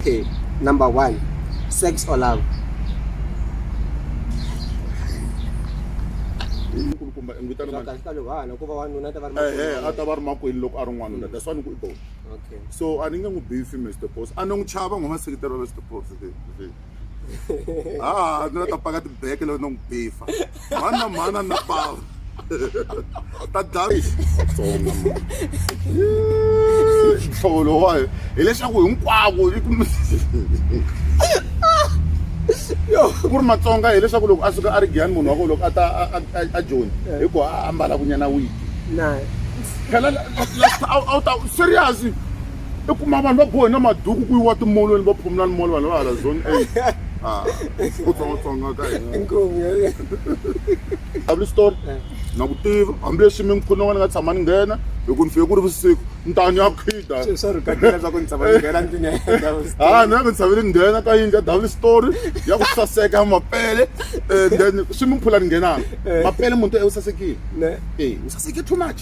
Okay, number one, sex or love? nkulukumba i n'witana mani Kahle ka lovanhu ku va wanuna ta va ri ehe a makwerhu. ta va ri makwenu loko a ri n'wanuna that's why ni ku i dona Okay. so a ni nge n'wi bifi mr pos a ni n'wi chava n'wi maseketelo mr pos ha ni la ta paka tibeke loko ni n'wi bifa mhani na mhani a ni na pala ta dlayi vatsonga nhlovo lowayo hileswaku hinkwako ku ri matsonga hileswaku loko a suka a ri giyani munhu wa ko loko a ta a joni hi ku a ambala kunyana wiki phela a wu ta serious i kuma vanhu va bohe na maduku ku yiwa timolweni va phumula ni molo vanhu va hala zone eight ah, ku tsongatsonga ka hina story eh. na ku tiva hambileswi mi ngikhuni n'wana nga tshama ni nghena hi ku ni fike ku ri vusiku ni ta ni ya khida ha ni ya mi tshaveli nghena ka yindlu ya double story ya ku saseka ya mapele eh, then swi mi phula ni nghenaka eh. mapele munhu to e u sasekile e u saseke too much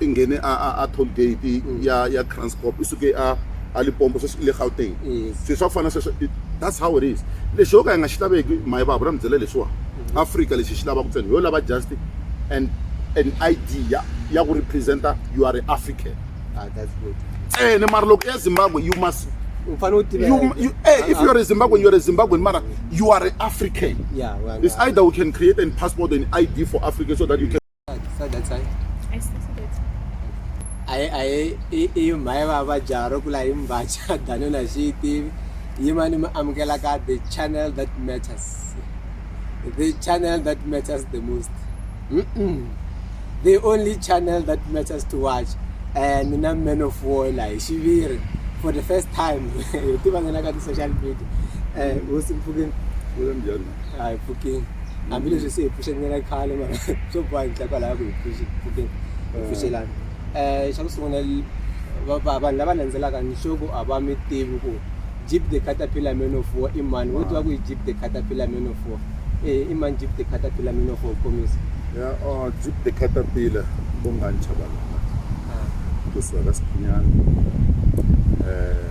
i nghene a a a toll gate ya ya Kranskop i suke a a Limpopo sweswi i le Gauteng swilo swa ku fana sweswo that's how it is lexi yo ka hi nga xi laveki mayi vava ra mi byela leswiwa Africa lexi hi xi lavaka ntsena hi yo lava just and an ID ya ya ku representa you are African ntsena mara loko ya Zimbabwe you must u fanele u tiva you, you hey, if you're a Zimbabwean, you're a Zimbabwean, mara you are an African. Yeah, well, It's either we can create a passport and ID for Africa so that you can. sadzatsai iyo mhai vavajaro kula hi mbacha dano na xi yi tivi yimani mi amukela ka the channel that matters the channel that matters the most mm -mm. the only channel that matters to watch eh, ni na man of war la hi xiviri for the first time hi tiva ngenaka ti-social media um hosi mpfukeni a hi pfukeni hambileswi se hi pfuxelana khale mara swo boha hi ndla kwalaya ku hi pfuxi pfukeni hi pfuxelana um xa ku sungula vanhu lava landzelaka ni sure ku a va mi tivi ku jeep the caterpillar man of war i mani wo tiva ku i jeep the caterpillar man of war e i mani jeep the caterpillar man of war komisa ya jeep the caterpillar bonganchaba kusuka ka siphinyana um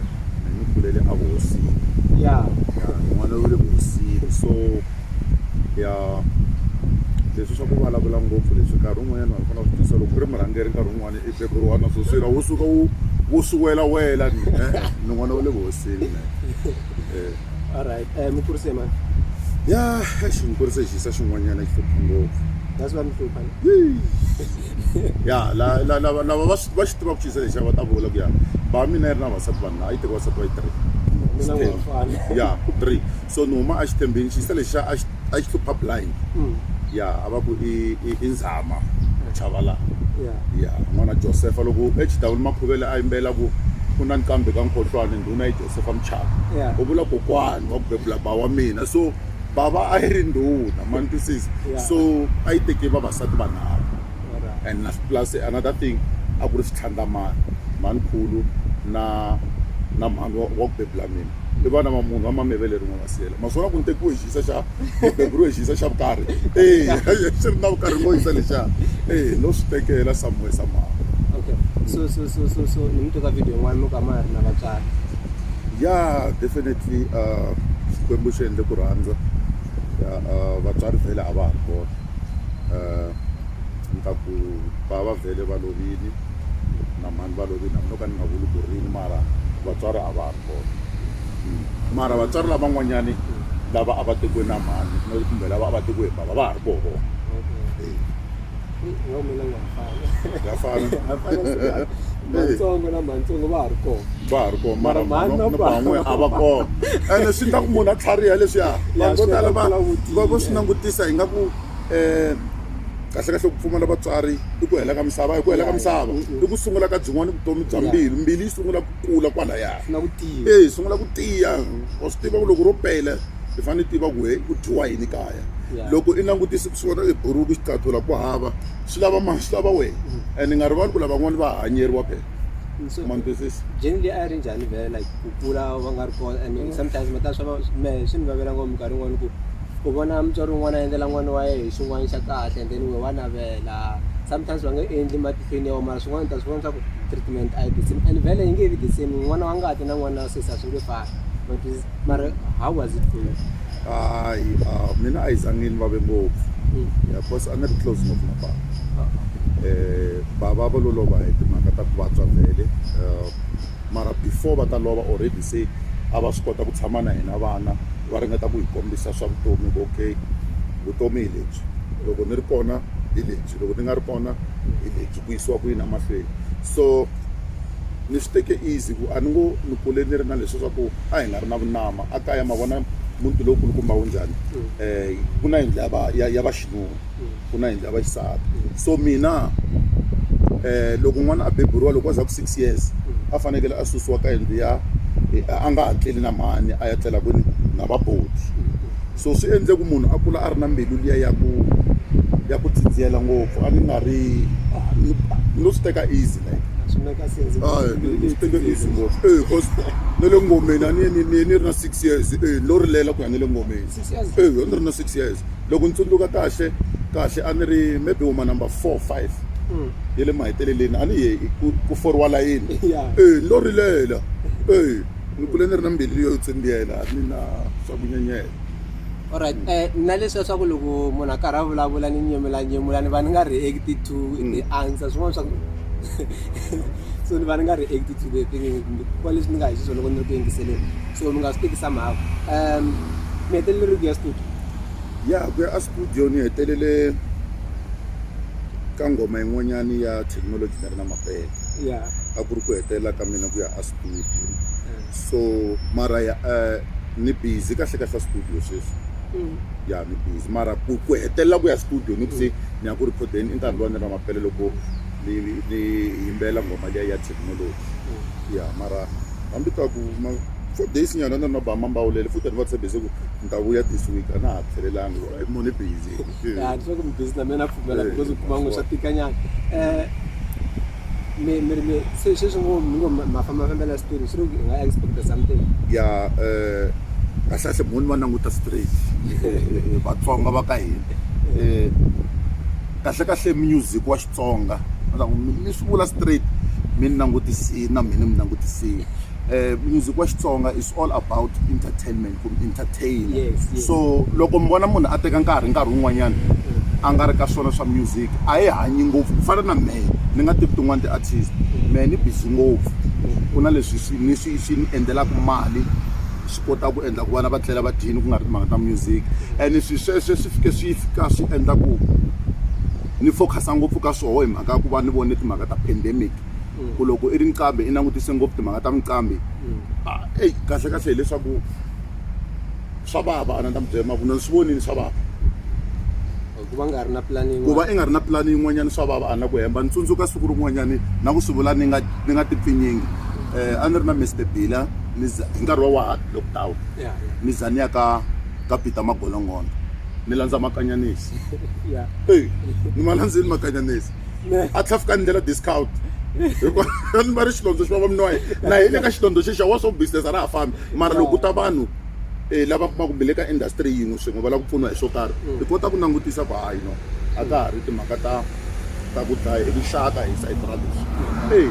ni kulele a vuhosini ya n'wana u le vuhosini so ya leswi swa ku vulavula ngopfu leswi nkarhi wun'wanyana vanhu fana vutisa loko ku ri murhangeri nkarhi wun'wana i beburiwa na swo swira wu suka wu wu swi welawela ni n'wana wa le vuhosini me eh. alright um eh, mukurise mani ya exi mukurise xisa xin'wanyana xi hlupha ngopfu that's why mi hlupha ya lava va swi tiva ku xisa lexa va ta vula ku ya ba mina yi ri na vasati vanhu a yi teka vasati va yi three ya three so ni huma a xi tembeni xisa lexa a xi hlupha blind mm. ya a va ku i nzhama chavala ya n'wana josefa loko exidawuli makhuvele a yimbela ku ku na nkambe ka nkhohlwane ndhuna yi Josefa Muchava yeah. u vula kokwani wa ku bebula ba wa mina so bava a yi ri ndhuna ma ni twisisa yeah. so a yi teke vavasati vanharhu right. and plus another thing a ku ri xitlhandlamani manikhulu na na mhani wa ku bebula mina i vana va munhu va mameve leri n'we va siyela maswona ku ni tekiwe xisa xa beburiwe xi yisa xa vukarhi e xi ri na vukarhi ngo yisa lexa e no swi tekela samuwe samama okay so so so so so ni mi teka video yin'wana mi ka ma ri na vatswari ya definitely uh xikwembu xi endle ku rhandza ya uh, vatswari vhele a va ha ri kona uh ni ta ku va va vhele va lovile na mhani va lovile hambi no ka ni nga vuli ku rini mara vatswari a va kona mara vatswari lavan'wanyani lava a va tekiwe na mhani kumbe lava a va tekiwe hi bava va ha ri koho vona ya fana matsongo na matsongo va ha ri kona va ha ri kona mara mhani na van'we a va kona ene swi endla ku munhu a tlhariha leswiya vanhu vo tala va va vo swi langutisa hi nga ku um kahle kahle ku pfumala vatswari i ku hela ka misava hi ku hela ka misava i ku sungula ka byin'wana vutomi bya mbilu mbilu yi sungula kula kwalaya na ku tiya eyi sungula ku tiya wa swi tiva ku loko ro pela hi fanele hi tiva ku he ku dyiwa yini kaya loko i langutise ku sungula eburuku xitatula ku hava swi lava mani swi lava wena mm. and ni nga rivali ku lavan'wana va hanyeriwa phela mandisisi jeni leyi a yi ri njhani vhele like ku kula va nga ri kona and mm. sometimes mata swa me swi ni vavela ngopfu minkarhi yin'wana ku u vona mutswari wun'wana a endlela n'wana wa yena hi xin'wana xa kahle and then we wa navela sometimes va nga endli pain ya mara swin'wana ta swi vona swa ku treatment a yi the same and vele yi nge vi the same n'wana wa ngati na n'wana wa sesi a swi nge fani but mara how was it for you hayi ah, mina a yi zangi ni vave ngopfu Mm. ya cause a ni ri close ngopfu na baba Ah, eh baba va lo lova hi timhaka ta ku vabya vhele eh, mara before va ta lova already se a va swi kota ku tshama na hina vana va ringeta ku hi kombisa swa vutomi ku okay vutomi hi lebyi loko ni ri kona hi lebyi loko ni nga ri kona byi ku yisiwa ku yini emahlweni so ni swi teke easy ku a ni ngo ni kule ni ri na leswi swa ku a hi nga ri na vunama a kaya ma vona muti lowu kulukumba wu njhani um ku na yindlu ya va ya ya vaxinuna ku na yindlu ya vaxisati so mina um loko n'wana a beburiwa loko a za ku six years a fanekele a susiwa ka yindlu ya a nga ha tleli na mhani a ya tlela kwini na vaboti so swi endle ku munhu a kula a ri na mbilu liya ya ku ya ku dzidziyela ngopfu a ni nga ri ni lo swi teka easy like ni swi teka easy ngopfu e cause na le ngomeni a ni ni ni ni ri na six years e ni lo rilela ku ya na le ngomeni e a ni ri na six years loko ni tsundzuka kahle kahle a ni ri maybe wuma number four five ya le maheteleleni a ni ye ku ku foriwa layini e ni lo rilela e ni kule ni ri na mbilu yo tsimbiyela a ni na swa ku nyenyela alright um eh, na leswiya swa ku loko munhu a karhi a vulavula ni nyemula nyemula ni va ni nga react to mm. the answer swin'wana swa ku so ni va ni nga react to the thing kuva leswi ni nga hi xiswo loko ni ri ku yingiseleni so mi nga swi teki somehow um mi hetelele ku ya studio ya ku ya a studio ni hetelele ka ngoma yin'wanyani ya technology ni ri na mapele a ku ri ku hetelela ka mina ku ya a studio so mara ya eh, ni busy kahle kahle studio sweswi ya ni busy mara ku ku hetelela ku ya studio ni ku se ni ya ku rikhodeni i nkarhi lowa ni ri na mapele loko ni ni yimbelela ngoma liya ya technology ya mara hambi ka ku ma four days nyana ni ri na bama mbawulele futhi ni va tshembise ku ni ta vuya this week a na ha tlhelelanga munhu i busy Eh. Ah, ndzi ve ku mi busy na mina na pfumela Eh, because u kuma ngo swa wa- tika nyana um mi mi ri mi se sweswi ngo mi ngo ma- mafambafambela switulu swi ri ku hi nga expecta something ya eh, kahlekahle mhoni va languta straight Eh, eh, eh, vatsonga va ka hina Eh, kahlekahle music wa xitsonga va ta ku, mi mi swi vula straight mi ni langutisini na mina mi langutisini um music wa xitsonga is all about entertainment ku mi entertain so loko mi vona munhu a teka nkarhi nkarhi wun'wanyana a nga ri ka swona swa music a hi hanyi ngopfu ku fana na mehe ni nga tivi tin'wani ti-artist mehe ni busy ngopfu ku na leswi swi ni swi swi ni endlelaka mali swi kota ku endla ku vana va tlela va dyini ku nga ri timhaka ta music and swi sweswe swi fike swi fika swi endla ku ni focus-a ngopfu ka swoho hi mhaka ya ku va ni vone timhaka ta pandemic ku loko i ri nqambi i langutise ngopfu timhaka ta minqambi mm. ah, eyi kahle kahle hileswaku swa vava a na ta mi byela maku na ni swi vonini swa vava ku va nga ri na pulani ku va i nga ri na pulani yin'wanyana swa vava a na ku hemba ni tsundzuka siku rin'wanyani na ku swi vula ni nga ni nga tipfinyingi um a ni ri na mister bila ni za hi nkarhi wa wahad lockdown ni za ni ya ka ka peter magolongondo ni landza makanyanisi e ni ma landzeni makanyanisi a tlhafuka ni ndlela discount hikuva ni va ri xilondzo xi va va minowa na hi le ka xilondzo xexa wa swo business a ra ha fambi mara loko ku ta vanhu um lava kumaka kumbe le ka industry yin'we swin'we va lava ku pfuniwa hi swo karhi hi kota ku langutisa ku hayi no a ka ha ri timhaka ta ta ku dlaya hi vuxaka hi sayiti ra leswi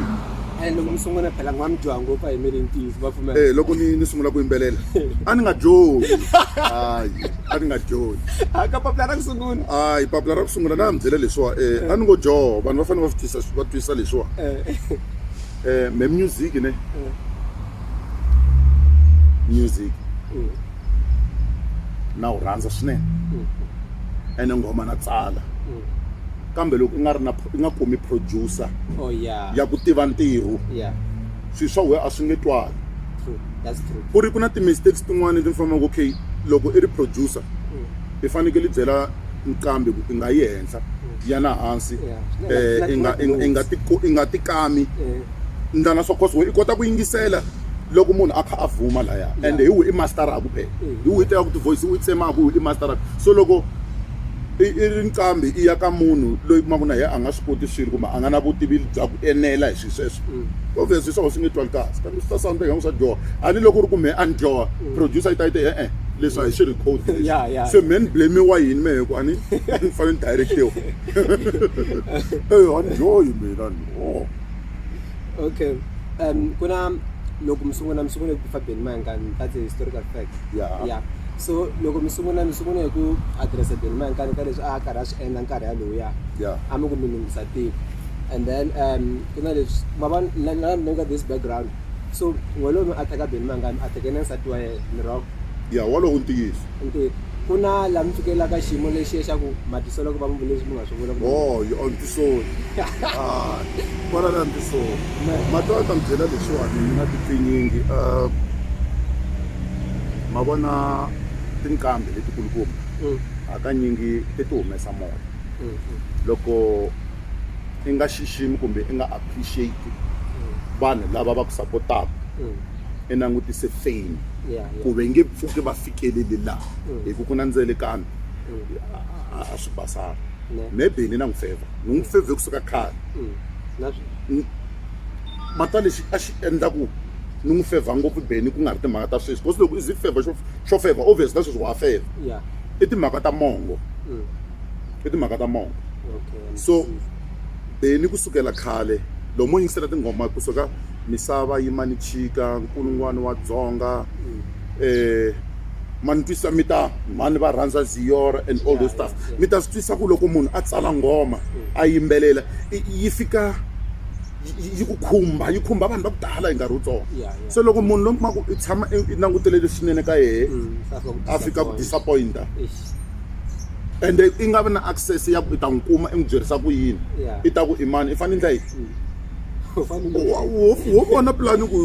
e loko mi sungula phela n'wa mi dyoha ngopfu a hi miri ntiyiso va pfumela loko ni ni sungula ku yimbelela a ni nga dyohi hayi a ni nga johi a ka papila ra ku sungula a hi papila ra ku sungula na ya mi byela leswiwa um a ni ngo joho vanhu va fanele va swi twisa va twisa leswiwa um me music ne music na wu rhandza swinene ene nghoma na tsala kambe loko i nga ri na i nga kumi producer oh, ya ku tiva ntirho swilo swa wehe a swi nge twali ku ri ku na ti-mistakes tin'wana leti ni fambaka okay loko i ri producer mm. i fanekele i byela nqambi ku i nga yi henhla mm. ya na hansi um i nga tikami eh. ndlana swa cause we i kota ku yingisela loko munhu a kha a vuma laya and hi wi i masteraku phela eh. hi wi i tekaku tivoice i wi tsemaku wi i masteraku so loko i ri nqambi i ya ka munhu loyi kumaku na yena a nga swi koti swilo kumbe a nga na vutivi bya ku enela hi sweswo mm. obvious hi swona swi nge twali kahle kambe swi ta sound ingaku swa dyoha a ni loko u ri ku mehe a ni dyoha mm. producer yi ta yi te e-e leswi a hi swi record se mehe ni blamiwa yini mehe ku a ni ni fanele ni directiwa eyo a ni dyohi mina ni o okay um ku na loko mi sungula mi sungule ku fabeni mayankani that's a historical fact ya so loko mi sungula mi sungula hi ku addressa beni mayankani ka leswi a karhi a swi endla nkarhi yalowuya a mi ku mi lunghisa tiko and then um ku na leswi ma va na na ni nga this background so walowo mi a ta ka beni mangani a tekene nsati wa yena ni rock ya walowo ntiyiso ntirho ku na laha mi fikelelaka xiyimo lexiya xa ku matisolo ku va mi leswi mi nga swi vula ku oh you on tisoni ah kwala na tisoni matwa ta mi byela leswiwani mi na tipfinyingi um ma vona tinqambi letikulukumba hakanyingi ti ti humesa moya loko i nga xiximi kumbe i nga appreciate vanhu lava va ku sapotaka mm. i langutise fame ku ve nge pfuki va fikeleli laha mm. hi ku ku na ndzelekano mm. a swi basanga maybe ni na n'wi feva ni n'wi feve kusuka khale mata lexi a xi endla ku ni n'wi feva ngopfu beni ku nga ri timhaka ta sweswi because loko i zi feva xo feva obvious na sweswi wa feva i timhaka ta mongo i timhaka ta mongo so beni kusukela khale loko mo yingisela tinghoma kusuka misava yi mani chika nkulungwani wa dzonga um eh, mani twisa mi ta mani va rhandza ziyora and all those stuff mi ta swi twisa ku loko munhu a tsala nghoma a yimbelela yi fika yi ku khumba yi khumba vanhu va ku tala hi nkarhi wutsongo se loko munhu lomaku i tshama i langutele leswinene ka yehe mm, a fika ku disappointa ende i nga vi na access ya ku i ta n'wi kuma i n'wi byerisa ku yini i ta ku i mani i fanele ndla yini wo vona pulani ku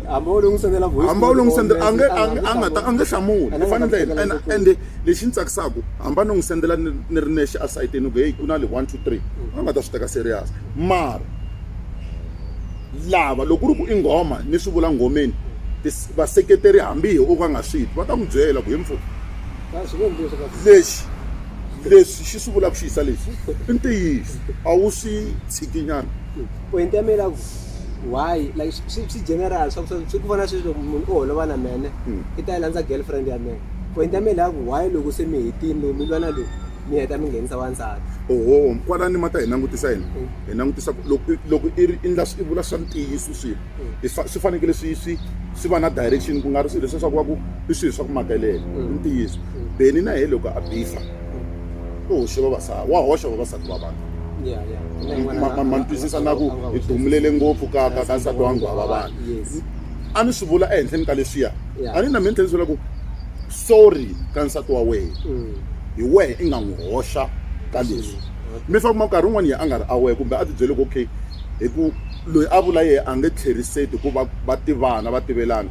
hamba u longisendela hamba u longisendela a nge a nga ta a nge hlamuli i fanele ndla yini ende lexi ni tsakisaka hamba ni n'wi sendela ni ri nexe esayitini ku heyi ku na le one two three a nga ta swi teka serious mara lava loko ku ri ku i nghoma ni swi vula nghomeni vaseketeri hambi hi o ka nga swi twi va ta n'wi byela ku hi mfo lexi leswi xi swi vulaka ku xi yisa lexi i ntiyiso a wu swi tshikinyana point ya mina ku why like swi swi general swa ku swi ku vona sweswi loko munhu u holova na mene hmm. i ta yi landza girlfriend ya mena point ya mina ku why loko se mi hetini lowu mi lwana lowu mi heta mi nghenisa wansati oho kwalani ma ta hi langutisa yini hmm. hi langutisa loko loko i ri i vula swa ntiyiso swilo swi fanekele swi swi swi va na direction ku nga ri swilo leswiya swa ku va ku i swilo swa ku makelela i ntiyiso beni na ye loko a bifa u hoxe vavasati wa hoxa vavasati va vanhu ma ni twisisa na ku hi dumulele ngopfu ka ka ka nsati wa nghwava vanhu a ni swi vula ehenhleni ka leswiya a ni na mina tlhela ni swi vula ku sorry ka nsati wa wena hi wehe i nga n'wi hoxa ka leswi mi famba nkarhi wun'wana ya a nga ri aware kumbe a ti byele ku okay hi ku Loyi a vula yehe a nge tlheriseti hikuva va tivana va tivelana.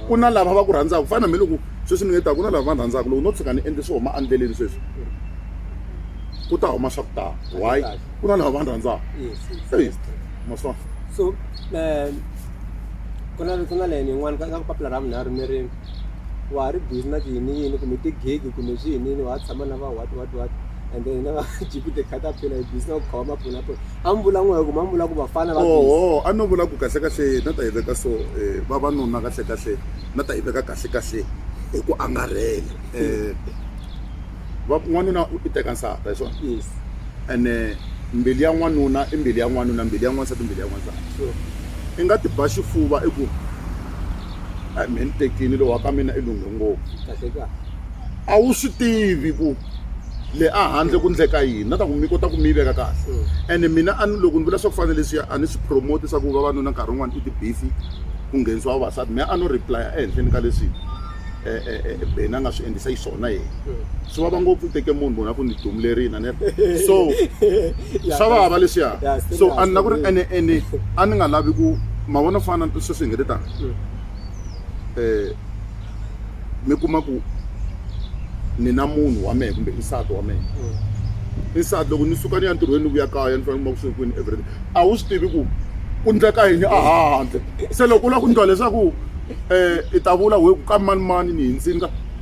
Ku na lava va ku rhandzaka ku fana na hambiloko sweswi ni nge ta ku na lava va ni rhandzaka loko no tshuka ni endle swo huma endleleni sweswi ku ta huma swa ku tala why ku na lava va ni rhandzaka eyi ma swi vona. So ku na ku na layeni yin'wana ka papila ra vunharhu mi ri. wa ha ri busy na tiyiniyini kumbe ti-gig kumbe swi yinini wa ha tshama na va what what what and then hina va gp the caterpillar hi busy na ku khoma maphulaphula a mi vula n'we hi ku ma mi vula ku vafana va busy oho a no vula ku kahlekahle na ta yi veka so eh, vavanuna kahlekahle na ta yi veka kahlekahle hi ku angarhela um n'wanuna i teka nsata hi swona yes ene mbilu ya n'wanuna i mbilu ya n'wanuna mbilu ya n'wansati mbilu ya n'wansati sure i nga ti ba xifuva i ku a me ni tekini lowa ka mina i lunghe ngopfu a wu swi tivi ku le a handle ku ndleka yini na ta ku mi kota ku mi yi veka kahle mm. ene mina a loko ni vula swa ku fana leswiya a ni swi promote swa ku vavanuna nkarhi wun'wana i tibifi ku nghenisiwa vavasati mina a no replya ehenhleni ka leswi um eh, eh, eh, beni a nga swi endlisa yi swona yena swi vava ngopfu u teke munhu munhu a ku ni dumulerini a ni so swa vava leswiya so a ni la ku ri ene ene a ni nga lavi ku ma vona fana sweswi hi nge ti tani um eh, mi kuma ku ni na munhu wa mehe kumbe nsati wa mehe nsati loko ni suka ni ya ntirhweni ni vuya kaya ni fanele kuma ku swekwini everything a wu swi tivi ku ku ndleka yini a handle se loko u lava ku ndlwa leswaku um i ta vula we ku ka mani mani ni hindzini ka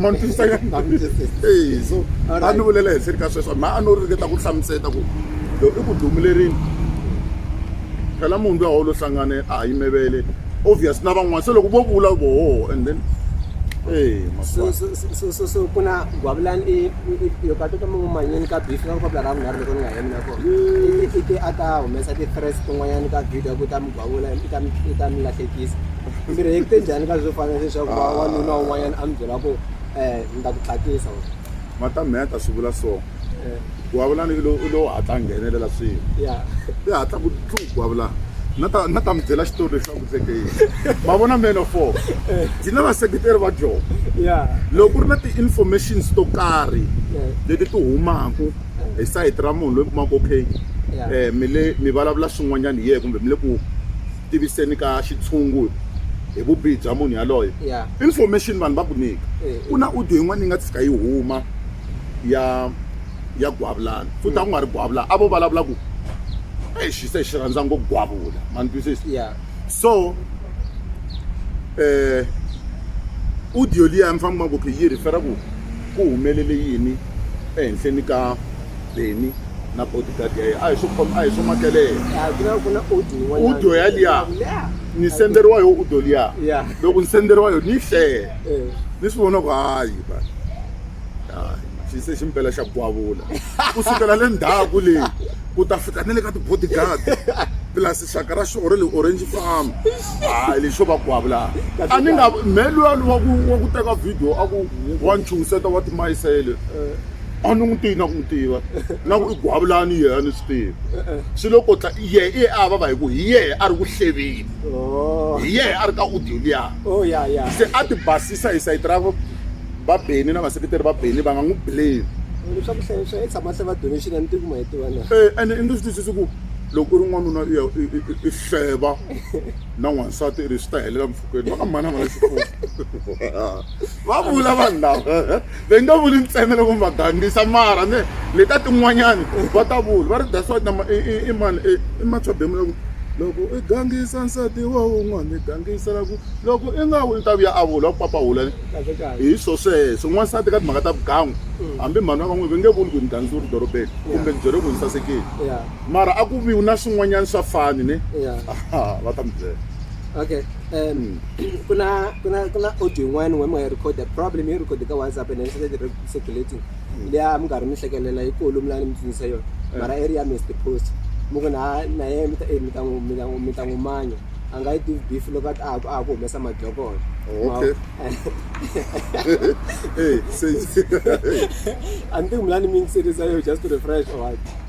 ma ni twisa ka ndhawu eyi so a ni vulela ehenhleni ka sweswo mha a no ringeta ku hlamuseta ku lo i ku dumilerini phela munhu luya wolo hlangane a ha yimevele obvious na van'wana se loko vo vula voho and then ee so so so so so ku na gwavulani i i- i- yo ka to toma manyeni ka beef nga ku papila ra vunharhu loko ni nga hemi na kona i ti a ta humesa ti-threats tin'wanyani ka video ku ta mi van'wana i ta i ta mi lahlekisa mi react-e njhani ka swo fana leswaku Ah. wanuna un'wanyana a mi byela ku um ni ta ku tlakisa or, madam me a ta swi vula so eh, ku avulana i lo- i lowu hatla a nghenelela swilo ya i hatla ku tlu ku avulana na ta na ta mi byela xitori lexi a ku tseke yini ma vona man of four hi na vaseketeri va jona ya loko ku ri na ti-informations to karhi eh. leti ti humaka hi sayiti ra munhu loyi mi kumaka ku okay mi le mi vulavula swin'wanyana hi yena kumbe mi le ku tiviseni ka xitshungu hi vubihi bya munhu yaloye information vanhu va ku nyika ku na audio yin'wana yi nga tshika yi huma ya ya gwavulana futhi a ku nga ri gwavula a vo vulavula ku eyi xi se xi rhandza ngo gwavula ma ni twisisa so um audio liya mi fanele mi va ku okay yi rhifera ku ku humelele yini ehenhleni ka Benny na bodyguard ya yena a hi swi khoma a hi swi makelela Ah, ku na ku na audio yin'wanyana. Audio ya liya. Yeah. ni senderiwa yo udo liya Yeah. loko ni senderiwa yo ni yi hlele Eh. ni swi vona ku hayi ba hayi xi se ximpela xa gwavula ku sukela le ndzhaku leyi ku ta fika ni le ka ti-bodyguard plus xaka ra xiore le orange farm hayi lexo va ku havula a ni nga me luya wa ku wa ku teka video a ku wa ni chuhiseta wa timayisele a ni n'wi tivi na ku n'wi tiva na ku i gwavulani yehe a ni swi tivi swi lo kotla yehe i ye a vava hi ku hi yehe a ri ku hlevini hi yehe a ri ka audio liya se a ti basisa hi sayiti ra va beni na vaseketeri va beni va nga n'wi blame leswaku hlayi swa yi tshama se va donation a ni tivi ku ma yi tiva na ene i nge swi twisisi ku loko u ri n'wanuna u ya i hleva na n'wansati i ri swi ta helela mpfhukeni va ka mhana mhana xifuwo va vula vanhu lava va nga vuli ntsena loko mi va gangisa mara ne le ka tin'wanyani va ta vula va ri that's why nama i mani i matshwabemu loko loko i gangisa nsati wa wun'wana i gangisela ku loko i nga vuli ta vuya a vula ku papahula hi swo sweswo n'wansati ka timhaka ta vugangu hambi mhani wa ka n'wina va nge vuli ku ni gangisa u ri dorobeni kumbe ni byele ku ni sasekile mara a ku vi na swin'wanyana swa fani ne va ta mi byela okay um ku na ku na ku na audio yin'wana wa mi nga yi recorda problem yi record ka whatsapp and then started circulating hmm. leya mi karhi mi hlekelela yi kulu mi la ni mi tsundzusa yona eh. mara i ri ya mr post mi ku na na yena mi ta eh, mi ta n'wi mi ta n'wi mi ta n'wi manya a nga yi tivi beef loko a ha a ha ku humesa madlokolo oh, okay hey, hey, hey. a ni tivi mi la ni mi yingiserisa yo just to refresh or what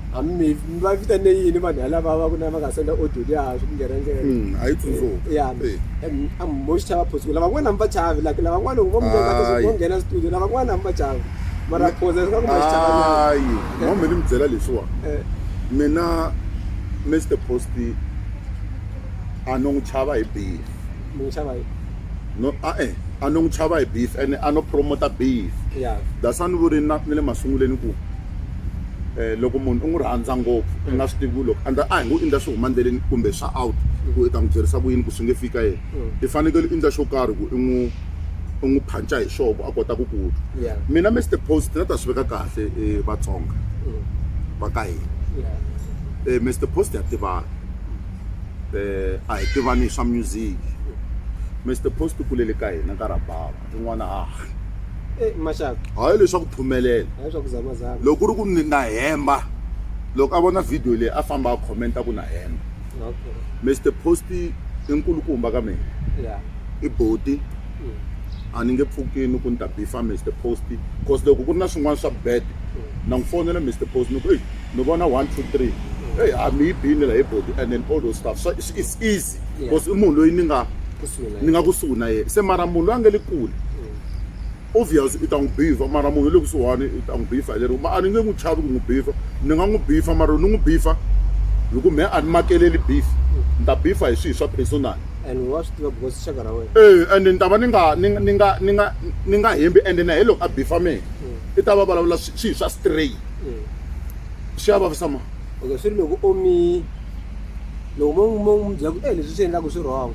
a mi mi mi va vitane yini vanhu yalava va ku na va nga senda audio liya swi ku ngerengere Mm, a yi tsundzuka. Eh, ya Eh. em, a mi boxi chava phosi ku lavan'wana a mi va chavi like lavan'wana loko vo mi veka ka Hayi. vo nghena studio lavan'wana a mi va chavi mara phosa swa ku ma xi chavanyana hayi mama mi ni mi byela leswiwa Eh, mina mr posty a no n'wi chava hi beef mi n'wi chava hi no a-e a no n'wi chava hi beef ene a no promota beef ya that's why ni vuri na ni le masunguleni ku um loko munhu u n'wi rhandza ngopfu u nga swi tivi ku loko endla a hi ngo i ndla swi huma endleleni kumbe swa out ku i ta n'wi byerisa ku yini ku swi nge fika yena i fanekele i ndla xo karhi ku i n'wi u n'wi phanca hi xoho ku a kota ku ku twa mina mister post na ta swi veka kahle um vatsonga va ka hina um mister post ya tivana um a hi tivani hi swa music mister post u kulele ka hina ka rabava rin'wana haha e maxaka hayi leswa ku phumelela hayi swa ku zamazama loko ku ri ku ni na hemba loko a vona video leyi a famba a comment ku na hemba okay Mr Post i nkulukumba ka mina yeah i boti mm. a ni nge pfukini ku ni ta bifa Mr Post cause loko ku ri na swin'wana swa bad mm. na n'wi fonela Mr Post ni ku eyi ni vona one two three mm. eyi a mi yi bini la hi boti and then all those stuff so it's, it's easy hansi because i munhu loyi ni nga ni nga kusuhi na yena se mara munhu loyi a nga le kule obvious i ta n'wi bifa mara munhu wa le kusuhani i ta n'wi bifa hi lero a ni nge n'wi chavi ku n'wi bifa ni nga n'wi bifa mara ni n'wi bifa hi ku mehe a ni makeleli beef ni ta bifa hi swilo swa personal e ende ni ta va ni nga ni ni nga ni nga ni nga hembi ende na hi loko a bifa mehe mm. i ta va vulavula swilo swa stray mm. swi ya vavisa ma okay swi ri loko omi loko mo mo n'wi byela ku e leswi swi endlaku swi wrong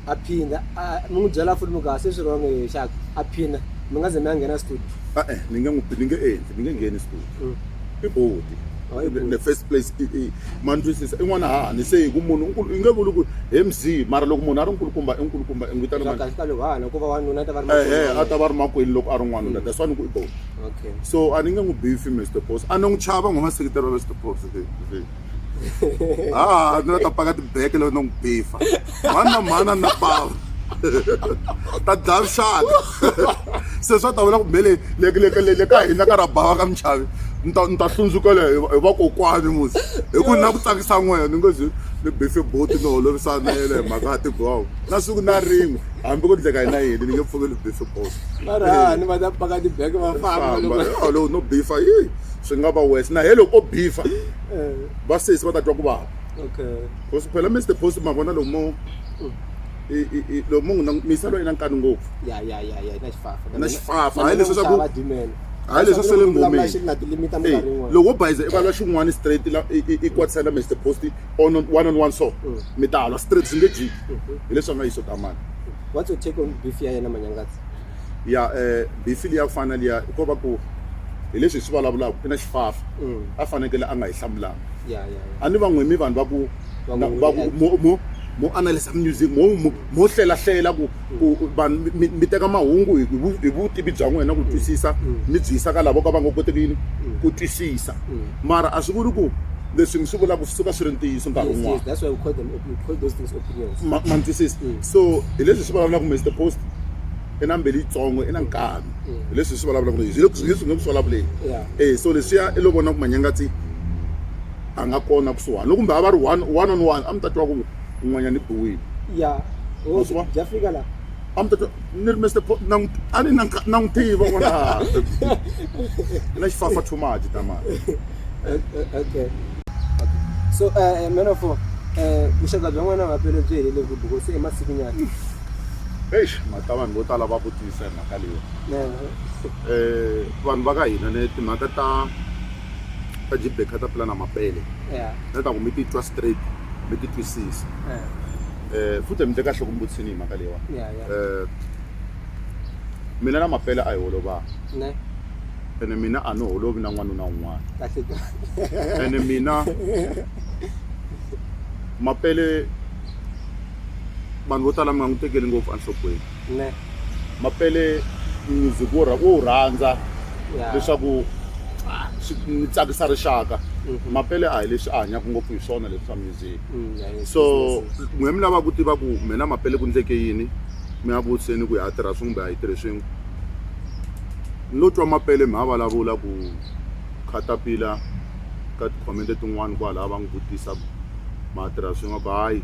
a phinda a mi n'wi byela futhi mi ku a se swi wrong e xaka a phinda mi nga ze mi ya nghena studio a-e ni nge n'wi ni nge endli ni nge ngheni studio i boti Oh, i boti. the first place i- i- ma ni twisisa i n'wana hani se hi ku munhu i nkulu- i nge vuli ku he mzii mara loko munhu a ri nkulukumba i nkulukumba i n'wi vitana swa mani kahle ka loko hana ku va wanuna a ta va ri ehe makwerhu wa a ta va ri makwenu loko a ri n'wanuna that's why ni ku i boti wena. okay so a ni nge n'wi bifi mr boss a ni n'wi chava n'wi va sekiteri wa mr boss ha ni la ta paka tibeke loko no n'wi bifa mhani na mhani a ni na pava ta dlaya vuxaka se swa ta vula ku mele le ka hina ka ra bava ka michavi ni ta ni ta hlundzukela hi vakokwani musi hi ku na ku tsakisa n'wena ni ngo zi ni bife boti ni holovisa na yena hi mhaka ya tibawu na siku na rin'we hambi ku ndleka hina yini ni nge pfuki ni bife boti marihani va ta paka tibeke va famba loko no bifa yini swi nga va wes na he loko o bifa vasesi va ta twa ku vava because phela mr post ma vona lomu mo lomu mu n'wi misa loyi na nkani ngopfu na xifafa hayi leswi swa ku hayi leswi sele ngomiloko wo bayiza i valwa xin'wana straight i kwatisela mr post on one on one so mm. mi ta halwa straight swi nge jiki mm-hmm. hileswi a nga yi swo tamani what's your take on beef ya yena manyangatsi ya um bifi liya ku fana na liya ko va ku hi leswi hi swi vulavulaka i na xifafa mm. a fanekele a nga hi hlamulanga a ni va n'wi mi vanhu va ku va ku mo mo analysa music mo mo hlelahlela ku vanhu mi teka mahungu hi vutivi bya n'wina ku twisisa mm. mi byi yisa ka lavo ka va nga koteki yini mm. ku twisisa mm. mara a swi vuli ku leswi mi swi vulaka swi suka swi ri ntiyiso nkarhi wun'wana ma twisisa so hi leswi swi vulavulaka mr post i na mbeli yitsongo i na nkani hi leswi hi swi vulavulaka hi hi leswi hi nga ku swi vulavuleni e so leswiya i lo vona ku manyangatsi a nga kona kusuhani loko kumbe a va ri one one on one a mi ta twa ku un'wanyana i biwile ya bya fika laha a mi ta twa ni ri mester a ni na na n'wi tiva vona na xifafa too much ta mali okay so uh, man of uh, vuxaka bya n'wana vapele byi helele ku buko se emasiku nyana eish mhaka ta vanhu vo tala va vutisa hi mhaka leyi um vanhu va ka hina ne timhaka ta ta jibek kha ta pula na mapele na ta ku mi ti twa straight mi ti twisisa um futhi mi te kahle ku mi vutisini hi mhaka leyiwa um mina na mapele a hi holovanga ene mina a ni holovi na n'wanuna un'wana ene mina mapele vanhu vo tala mi nga n'wi tekeli ngopfu enhlokweni ne mapele music wo rha- wo wu rhandza ya leswaku ah, swi mi tsakisa rixaka Mhm. mapele a hi leswi a hanyaka ngopfu hi swona leswi swa music Mm, ya, yes, so yes, yes. n'we mi lava ku tiva ku mina mapele ku ndleke yini mi ya vutiseni ku ya tirha swin'we kumbe a yi tirhi swin'we ni lo twa mapele mi ha vulavula ku khatapila ka tikhomente tin'wani kwalaha va n'wi vutisa ku ma tirha swin'we ku hayi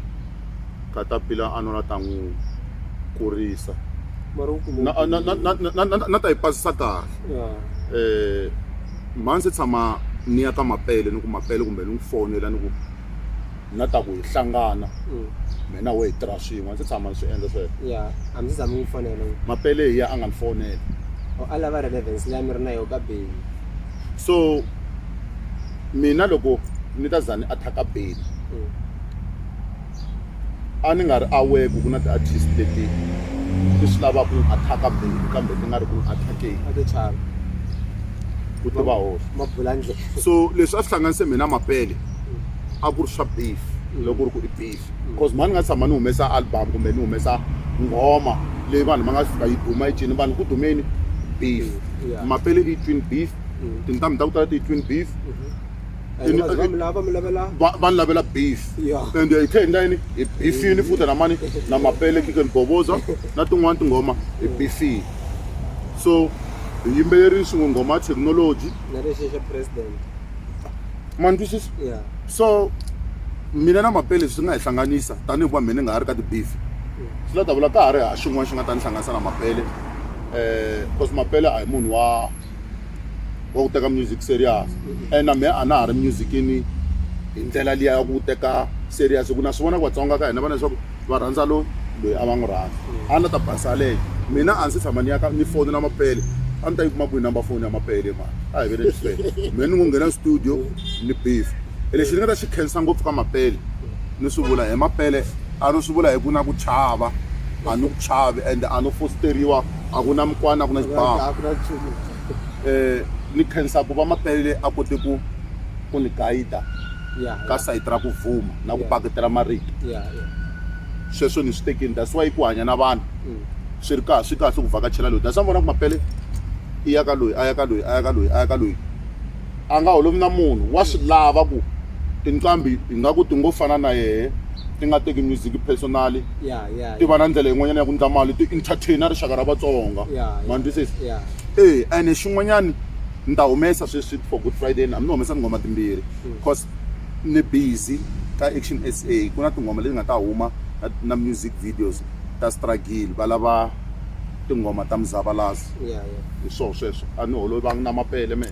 katapila a nona ta n'wi kurisa na ta yi pasisa kahle um mhani se tshama ni ya ka mapele ni ku mapele kumbe ni n'wi fonela ni ku na ta ku hi hlangana mm. mina wo hi tirha swin'we ndzi tshama ni swi endla sweswomapele hi ya a nga ni fonela oh, a lava relevance leyi a mi ri na yo ka beli so mina loko ni ta za ni attack-a beli mm. a ni nga ri aware ku ku na ti-artist leti ti swi lavaka ni attack-a Benny kambe ti nga ri ku ni attack-eni a to chava ku tiva hoxa ma bula ndlela so leswi a swi hlanganise mina mapele a ku ri swa beef loko ri ku i beef because mhani nga tshama ni humesa album kumbe ni humesa nghoma leyi vanhu va nga fika yi duma yi cini vanhu ku dumeni beef Yeah. mapele i twin beef tintambi ta ku tala ti twin beef And Ini- bazivamu lava va mi lavela va va ni lavela beef Yeah. and hi tlhe hi endla yini hi bifini futa na mani na mapele kike ni bovoza na tin'wani tinghoma hi bifini so hi yimbelerile swin'we nghoma ya thekinoloji na lexi xa president manitwisisa ya so mina na mapele swi nga hi hlanganisa tanihi va mina ni nga ha ri ka ti-beef swi la ta vula ka ha ri ha xin'wana xi nga ta ni hlanganisa na mapele um because mapele a hi munhu wa wa ku teka music serious and na mehe a na ha ri musicini hi ndlela liya ya ku teka serious hi ku na swi vona ku vatsonga ka hina vana leswaku va rhandza loyi loyi a va n'wi rhandza a na ta basa leyo mina a ndzi tshama ni ya ka ni foni na mapele a ni ta yi kuma kwihi number foni ya mapele mani a hi ve le swisele mina ni ngo nghena studio ni beef e lexi ni nga ta xi khensa ngopfu ka mapele ni swi vula hi mapele a ni swi vula hi ku na ku chava a ni ku chavi ende a no fositeriwa a ku na mukwana a ku na xibamu um ni khensa ku va mapele a kote ku ku ni gayida ka sayiti ra ku vuma na ku paketela marito sweswo ni swi tekini that's why ku hanya na vanhu mm. swi ri kahle swi kahle ku vhakachela loyi that's why vona ku mapele i ya ka loyi a ya ka loyi a ya ka loyi a ya ka loyi a nga holovi na munhu wa swi lava ku tinqambi hi nga ku ti ngo fana na yehe ti nga teki music personally ti va na ndlela yin'wanyana ya ku ndla mali ti-entertainer rixaka ra vatsonga ma twisisa e ene xin'wanyani ni ta humesa sweswi for good friday ni ni humesa tinghoma timbirhi because mm. ni busy ka action s a ku na tinghoma leti nga ta huma na music videos ta struggle va lava tinghoma ta muzavalazo hi swona sweswo a ni holovi va na mapele me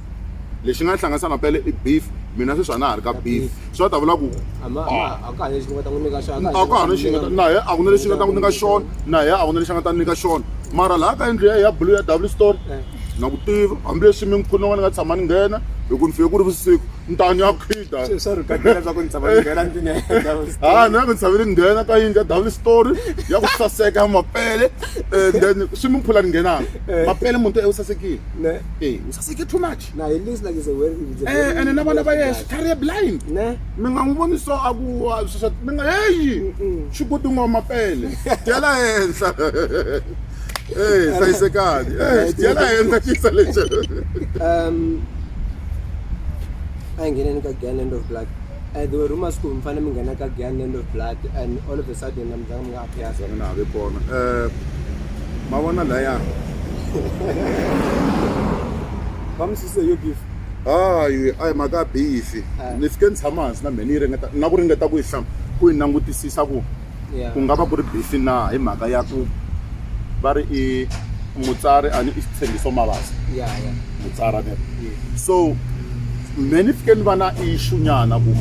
lexi nga hlanganisa na pele i beef mina sweswi a na ha ri ka beef swi va ta vula ku a ka ha na lexi nga ta n'wi nyika xona a ka ha na lexi nga ta na yena a ku na lexi nga ta n'wi nyika xona na yena a ku na lexi nga ta nyika xona mara laha ka yindlu ya ya blue ya w store na ku tiva hambileswi mi nkhuni wa ni nga tshama ni nghena hi ku ni fike ku ri vusiku ni ta ni ya khida ha ni ya ku ni tshame ni nghena ka yindlu ya w store ya ku saseka ya mapele and then swi mi phula ni nghenaka mapele muti u sasekile ne ee u saseke too much na he looks like is a very is a eh very ene na vana va yena xitlhari ye blind ne mi nga n'wi voni so a ku wa sweswa mi nga heyi xigudungo mapele dyela henhla ee hlayisekani ee dyela henhla xisa lexo um a hi ngheneni ka gyan end of blood and there were rumors ku mi fanele mi nghena ka gyan end of blood and all of a sudden na mi zanga mi Makhedza mi nga ha vi kona um ma vona laya va mi sise yo beef hayi a hi mhaka bifi ni fike ni tshama hansi na mheni yi ringeta na ku ringeta ku yi hlama ku yi langutisisa ku ku nga va ku ri bifi na hi mhaka ya ku va ri i mutsari a ni i xitshembiso mavasa mutsari so me ni fike ni va na issue nyana ku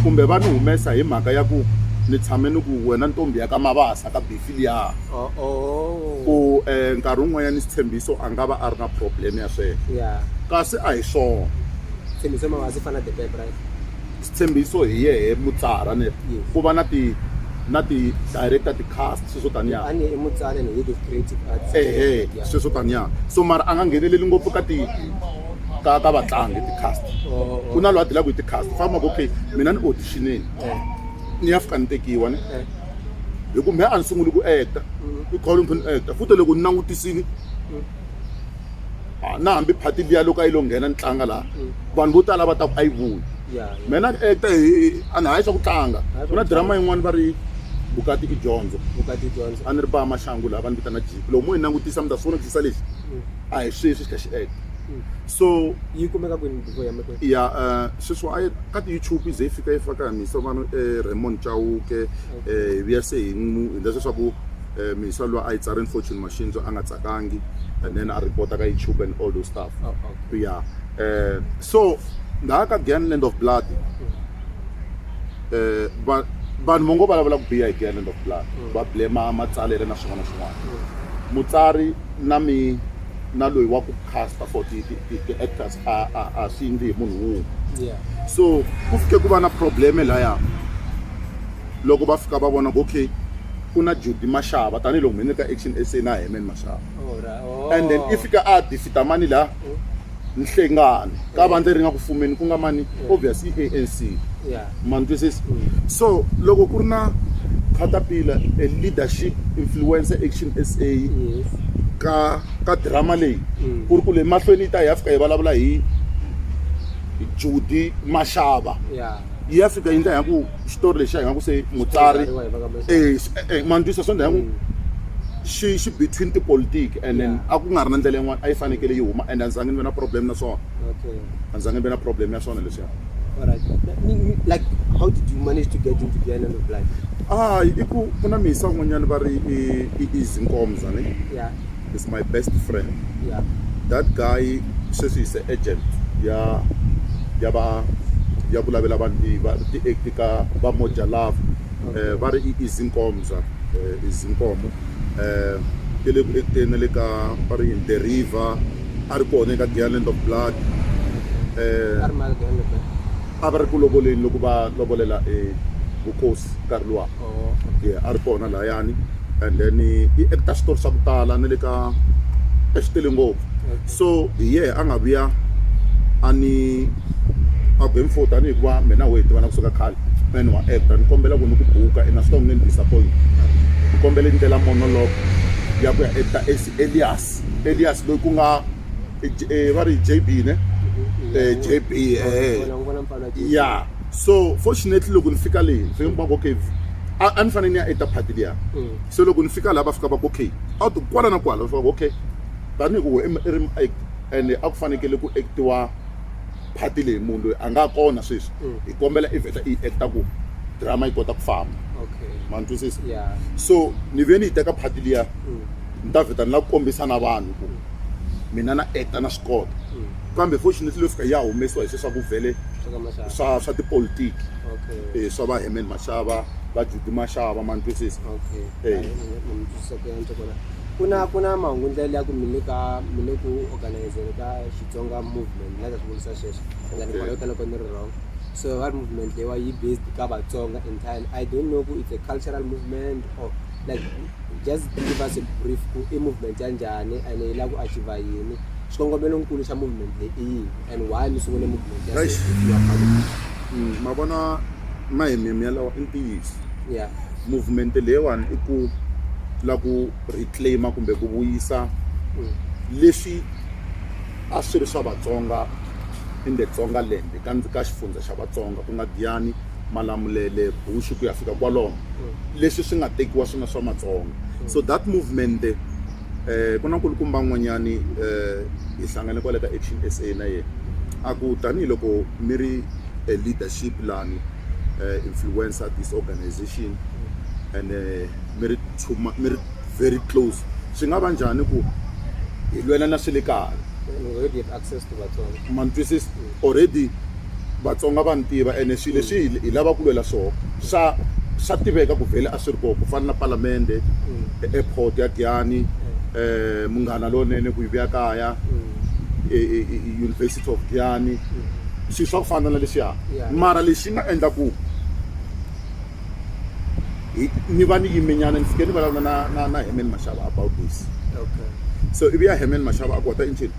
kumbe va ni humesa hi mhaka ya ku ni tshame ni ku wena ntombi ya ka mabasa ka befi liya oh, oh. ku um nkarhi wun'wanyana xitshembiso a nga va a ri na problem ya sweswo kasi a hi swona xitshembiso hi yehe mutsara ne ku va na ti na ti director ti cast sweswo taniya ehe sweswo taniya so mara a nga ngheneleli ngopfu ka ti ka ka vatlangi ti-cast ku na loyi a dilaka hi ti-cast famba ku okay mina ni auditionini ni ya fika ni tekiwa ni hi ku mehe a ni sunguli ku acta i kholo ni kha ni acta futa loko ni langutisile na hambi phati liya loko a yi lo nghena ni tlanga laha vanhu vo tala va ta ku a yi vuyi mehe na acta a ni hayi swa ku tlanga ku na drama yin'wana va ri vukati i dyondzo a ni ri ba maxangu laha va ni vitana jipi loko mo yi langutisa mi ta swi vona ku xisa lexi a hi sweswi xi kha xi acta so yi kumeka kwini buku ya mekwe ya eh, sweswi a ka ti-youtube ze yi fika yi faka misa vanhu um eh, raymond chauke um hi vuya se hi n'wi hi ndla leswaku um misa loyi a yi tsarini fortune machine so a nga tsakangi and then a report-a ka youtube and all those stuff oh, oh. ya um so ndhaya ka gan land of blood um vanhu vo ngo vulavula ku biya hi gan land of blood mm. va blema matsalele na swin'wana na swin'wana mm. mutsari na mi na loyi wa ku casta for ti-actors ti, ti, ti a, a, a swi endli hi munhu wun'we yeah. so ku fike ku va na probleme laya loko va fika va vona ku okay ku na judy maxava tanihiloko mhene ka action sa na hemen maxava oh, right. oh. and then i fika a defita mani laha oh. nhlengani ka vandla leri nga ku fumeni ku nga mani obvious i anc ma ni twisisa mm. so loko ku ri na khatapila a leadership influence action sa ka ka drama leyi mm. ku ri ku le mahlweni yi ta hi ya fika hi vulavula hi judi maxava yi ya fika yi ndla hi ku xitori lexi a hi nga ku se mutsari e ma ni twisisa so ndla hi ku mm. xi xi between tipolitiki and then a ku nga ri na ndlela yin'wana a yi fanekele yi huma and a ndzi zange ni ve na problem na swona a ndzi zange ni ve na problem ya swona leswiya like how did you manage to get into the island of life ah i ku ku na misa un'wanyana va ri i i easy nkomza ne is my best friend yeah. that guy sweswi is agent ya ya va ya vulavela vanhu ti-act ka va moja love eh, va ri i izinkomza eh, izinkomo eh, ti le ku ekuteni na le ka va ri in the river a ri kona eka gialand of blood eh, a va ri ku lovoleni loko va lovolela eh, vukosi nkarhi luwa oh, yeah, a ri kona layani and then eh, i acta xitori xa ku tala na le ka exitele ngopfu So hi yehe a nga vuya a ni a ku he mfo tanihi ku va me na wehe hi tivana kusuka khale and wa actor ni kombela ku ni ku buka and a swi ta ku nge ni disappoint ni kombela i ni tela monologue ya ku ya actor as elias elias loyi ku nga va ri j b ne j b ya so fortunately loko ni fika leyi ni fike ni kuma ku okay a ni fanele ni ya actor party liya so loko ni fika laha va fika va ku okay a wu ti kwala na kwala va fika va ku okay tanihi ku i i ri muact ene a ku fanekele ku act-iwa part leyi munhu loyi a nga kona sweswi hi kombela i vheta i yi act-a ku drama yi kota ku famba ma ni twisisa so ni ve ni yi teka part liya ni ta vheta ni la kombisa na vanhu ku mina na act-a na swi kota kambe fortunately leyo fika yi ya humesiwa hi sweswi swa ku vhele swa swa tipolitiki swa va Herman Mashava va Judy Mashava ma ni twisisa . ku na ku na mahungu ndlela liya ku mi le ka mi le ku organizeni ka Xitsonga movement ni nga ta swi vurisa sweswo and then kwalaho ka loko ni ri wrong so va ri movement leyiwa yi based ka Vatsonga entirely I don't know ku it's a cultural movement or like just give us a brief ku i movement ya njhani and yi lava ku achiever yini xikongomelo nkulu xa movement leyi i yini. and why mi sungule movement ya Eish. Save Your Family? Mm, ma vona mahemhemu yalawa i ntiyiso Yeah. movement leyiwani i ku la ku reclaima kumbe ku vuyisa Mm. leswi a swi ri swa vatsonga in the tsonga land ka ndzi ka xifundza xa vatsonga ku nga diyani malamulele bushu ku ya fika kwalomo leswi swi nga tekiwa swi nga swa matsonga so that movement ku na nkulukumba n'wanyani hi hlangane kwale ka Action S_A na yehe a ku tanihiloko mi ri a leadership lani influencer this organization ene mi ri mi ri very close swi nga va njhani ku hi lwela na swe le kaya ma ni twisiso already. Vatsonga va ni tiva ene swilo leswi hi hi lavaka ku lwela swona swa swa tiveka ku vhele a swi ri kona ku fana na palamende, airport ya Giyani, Munghana Lonene ku yi vuya kaya, University of Giyani swilo swa ku fana na leswiya mara lexi nga endla ku hi ni va ni yime nyana ni fike ni vulavula na na na Herman Mashava about this so ivi ya Herman Mashava a ku what are you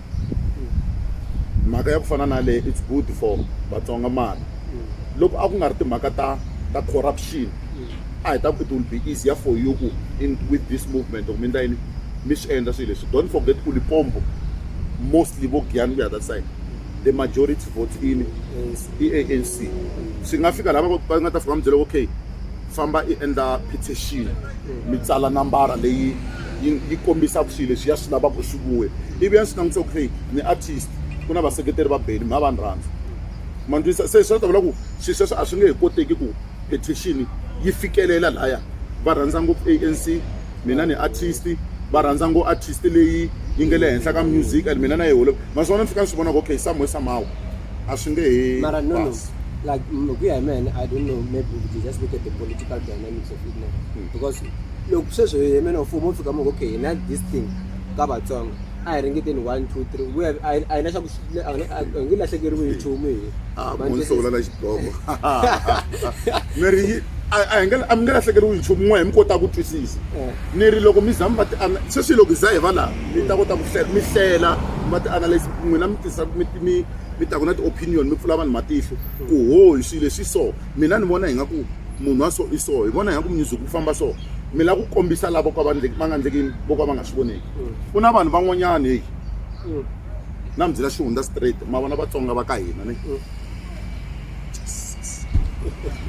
mhaka ya ku fana na leyi it's good for vatsonga mara loko a ku nga ri timhaka ta ta corruption a hi ta ku it will be easier for you ku in with this movement or mi endla yini mi swi endla swilo leswi don't forget ku lipombo mostly vo giyani ku ya that side the majority vote in i anc swi nga fika lava va nga ta fika va mi byela okay famba i endla petition mi tsala nambara leyi yi yi kombisaka swilo leswi ya swi lava ku swi vuya ivi ya swi langutisa ku hey ni artist ku na vaseketeri va beni mi va va ni rhandza ma ni twisisa se swi ta vula ku swilo sweswo a swi nge he koteki ku petition yi fikelela laya va rhandza ngopfu anc mina ni artist va rhandza ngo artist leyi yi nge le henhla ka music and mina na yi holo naswona ni fika ni swi vona ku okay somehow somehow a swi nge he mara no no basi. like mm, ku ya hi mene i don't know maybe we could just look at the political dynamics of it now Hmm. because loko sweswo hi mene mfumo wu fika moko okay hi na this thing ka vatsongo a hi ringeteni one two three we have- a hi- a hi na xa ku xi- a hi na- a hi nge lahlekeriwi hi nchumu hi Ah, Manjhe- munhu sungula na xidloko ni ri yi- a a hi nge a mi nge lahlekeriwi nchumu n'we hi mi kota ku twisisa Eh. ni ri loko mi za mi va ti ana- sweswi loko hi za hi va laha mi ta kota ku hlela mi hlela mi va ti analyse n'wina mi tisa mi mi mi ta ku na ti-opinion mi pfula vanhu matihlo ku ho hi swilo leswi so mina ni vona hi nga ku munhu wa so i so hi vona hi nga ku music ku famba so mi lava ku kombisa lava ka va va nga endleki vo ka va nga swi voneki ku na vanhu van'wanyana heyi na mi byela xihundza straight ma vona vatsonga va ka hina ni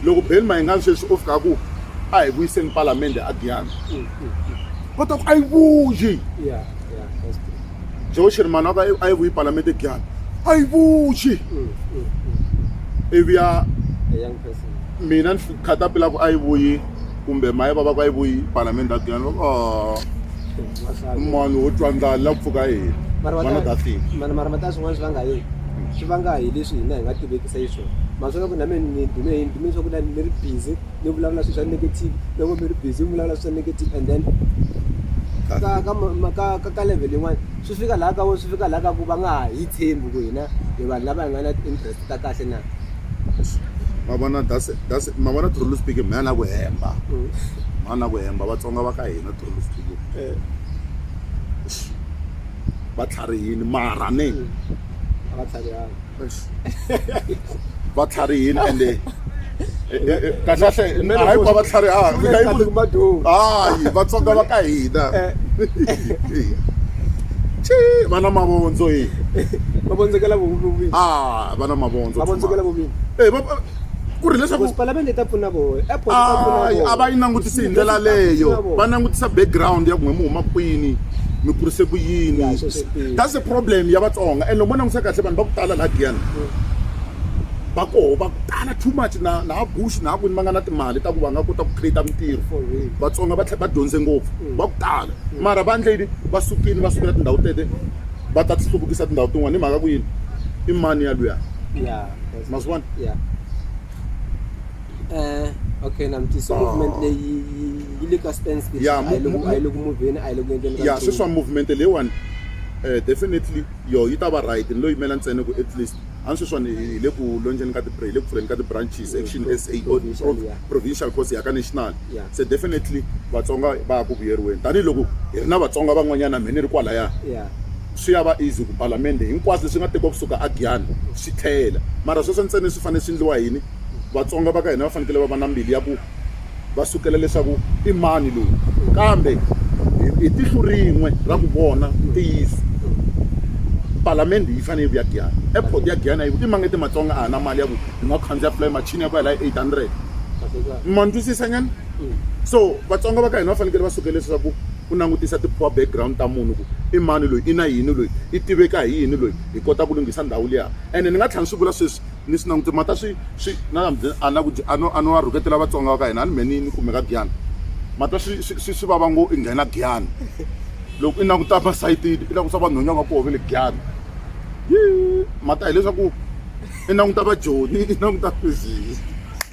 loko beli mayingani sweswi o fika ku a hi vuyiseni palamende a giyana kota ku a yi vuyi joe sherman wa ka a yi vuyi palamende giyana a yi vuyi ivi ya mina ni khatapila ku a yi vuyi kumbe maye vava ku a yi vuyi palamende a giyana oh. munhu wo twa ndlala la pfuka yini vana dathini mani mara mata swin'wana swi vanga yini swi vanga hi leswi hina hi nga tivekisa yi swona maswona ku na me ni dume hi dume swa ku na ni ri busy ni vulavula swilo swa negative loko mi ri busy mi vulavula swilo swa negative and then ka ka ka ka ka level yin'wana swi fika laha ka vo swi fika laha ka ku va nga ha yi tshembi ku hina hi vanhu lava hi nga na interest ta kahle na mavona dase dase mavona truly speaking mhana ku hemba mhana mm. ku hemba vatsonga va ka hina va tlharihini mara ni va tlharihini ende kahlekahle hayi ku va va tlharihaka hayi vatsonga va ka hina va na mavondzo yi va vondzekela a va na mavondzo e ku ri leswaku palamende yi ta pfuna voho airport yi ta pfuna voho a va yi langutisi hi ndlela leyo va langutisa background ya ku n'we mi huma kwini mi kurise ku yini that's the problem ya vatsonga and loko mo langutisa kahle vanhu va ku tala laha giyana va koho va ku tala too much na na bush na kwini va nga na timali ta ku va nga kota ku create mintirho vatsonga va tlhe va dyondze ngopfu va ku tala mara va ndle yini va sukile va sukela tindhawu tete va ta ti hluvukisa tindhawu tin'wana hi mhaka ku yini i mani ya luya must want yeah eh okay na mti so movement ah. leyi yi le ka stance ke a yi le ku moveni a yi le ku endleni ka ya sweswi movement leyiwani eh definitely yo yi ta va right ni lo yimela ntsena ku at least a ni sweswiwani hi le ku lonjeni ka hi le ku pfuleni ka ti-branches action s a provincial course ya ka national se definitely vatsonga va ya ku vuyeriweni tanihiloko hi ri na vatsonga van'wanyana mhe ni ri kwalaya swi ya va easy ku palamende hinkwaswo leswi nga tekiwa kusuka a Giyani swi tlhela mara sweswo ntsena swi fanele swi ndliwa yini vatsonga va ka hina va fanekele va va na mbilu ya ku va sukela leswaku i mani loyi kambe hi tihlo rin'we ra ku vona ntiyiso palamende yi fanele yi vuya Giyani airport ya Giyani a yi i mangete matsonga a ha na mali ya ku hi nga khandziya fly machine ya ku ya la 800 ma ndwisisa nyana so vatsonga va ka hina va fanekele va sukela leswaku ku langutisa ti poor background ta munhu ku i mani loyi i na yini loyi i tiveka hi yini loyi hi kota ku lunghisa ndhawu liya ene ni nga tlhela ni swi vula sweswi ni swi langutisa mata swi swi na a na ku a no a no a rhuketela vatsonga va ka hina a ni mhe ni ni kumeka giyani mata swi swi swi vava ngo i nghena giyani loko i languta masayitini i langutisa vanhwenya va koho ve le giyani yi mata hileswaku i languta vajoni i languta fizii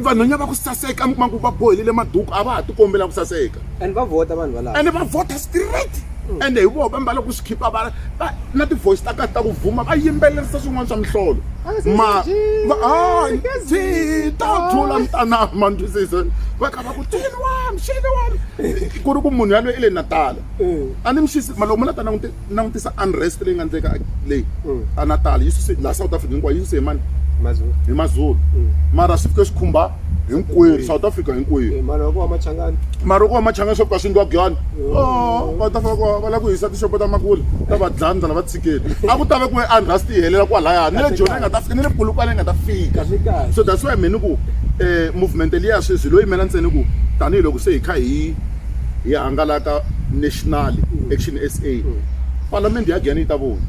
vanhwanya va ku saseka mi kuma ku va bohelele maduku a va ha ti kombela ku saseka and va vhota vanhu valava and va vhota straight mm. ende hi voho va mbala ku swi khipa va na ti-voice ta kahle ta ku vuma va yimbelerisa swin'wana swa mihlolo ah, ma ta thula mitanami mandwisisa va kha va ku tini wami xini wami ku ri ku munhu yaloyi i le natala eh. a ni mixisi maloko munatana n'wi Langutisa unrest leyi nga endleka leyi a Natal yi suse laha South Africa hinkwayo yi suse hi mani? Mazulu. Hi Mazulu. Mara swi fike swi khumba hinkwerhu South Africa hinkwerhu. Maroko wa Machangani. Maroko wa Machangani swo ka swi ndwa gyani. Oh, va ta fika ku va la ku hisa tixopo ta makule ta va dlaya ndlala va tshikeli. A ku ta ve ku ve unrest yi helela kwalaya ni le Joni yi nga ta fika ni le Polokwane yi nga ta fika. So that's why me ni ku um movement liya sweswi hi lo yimela ntsena ku tanihiloko se hi kha hi hi hangalaka National Action SA, Palamende ya Giyani yi ta vona.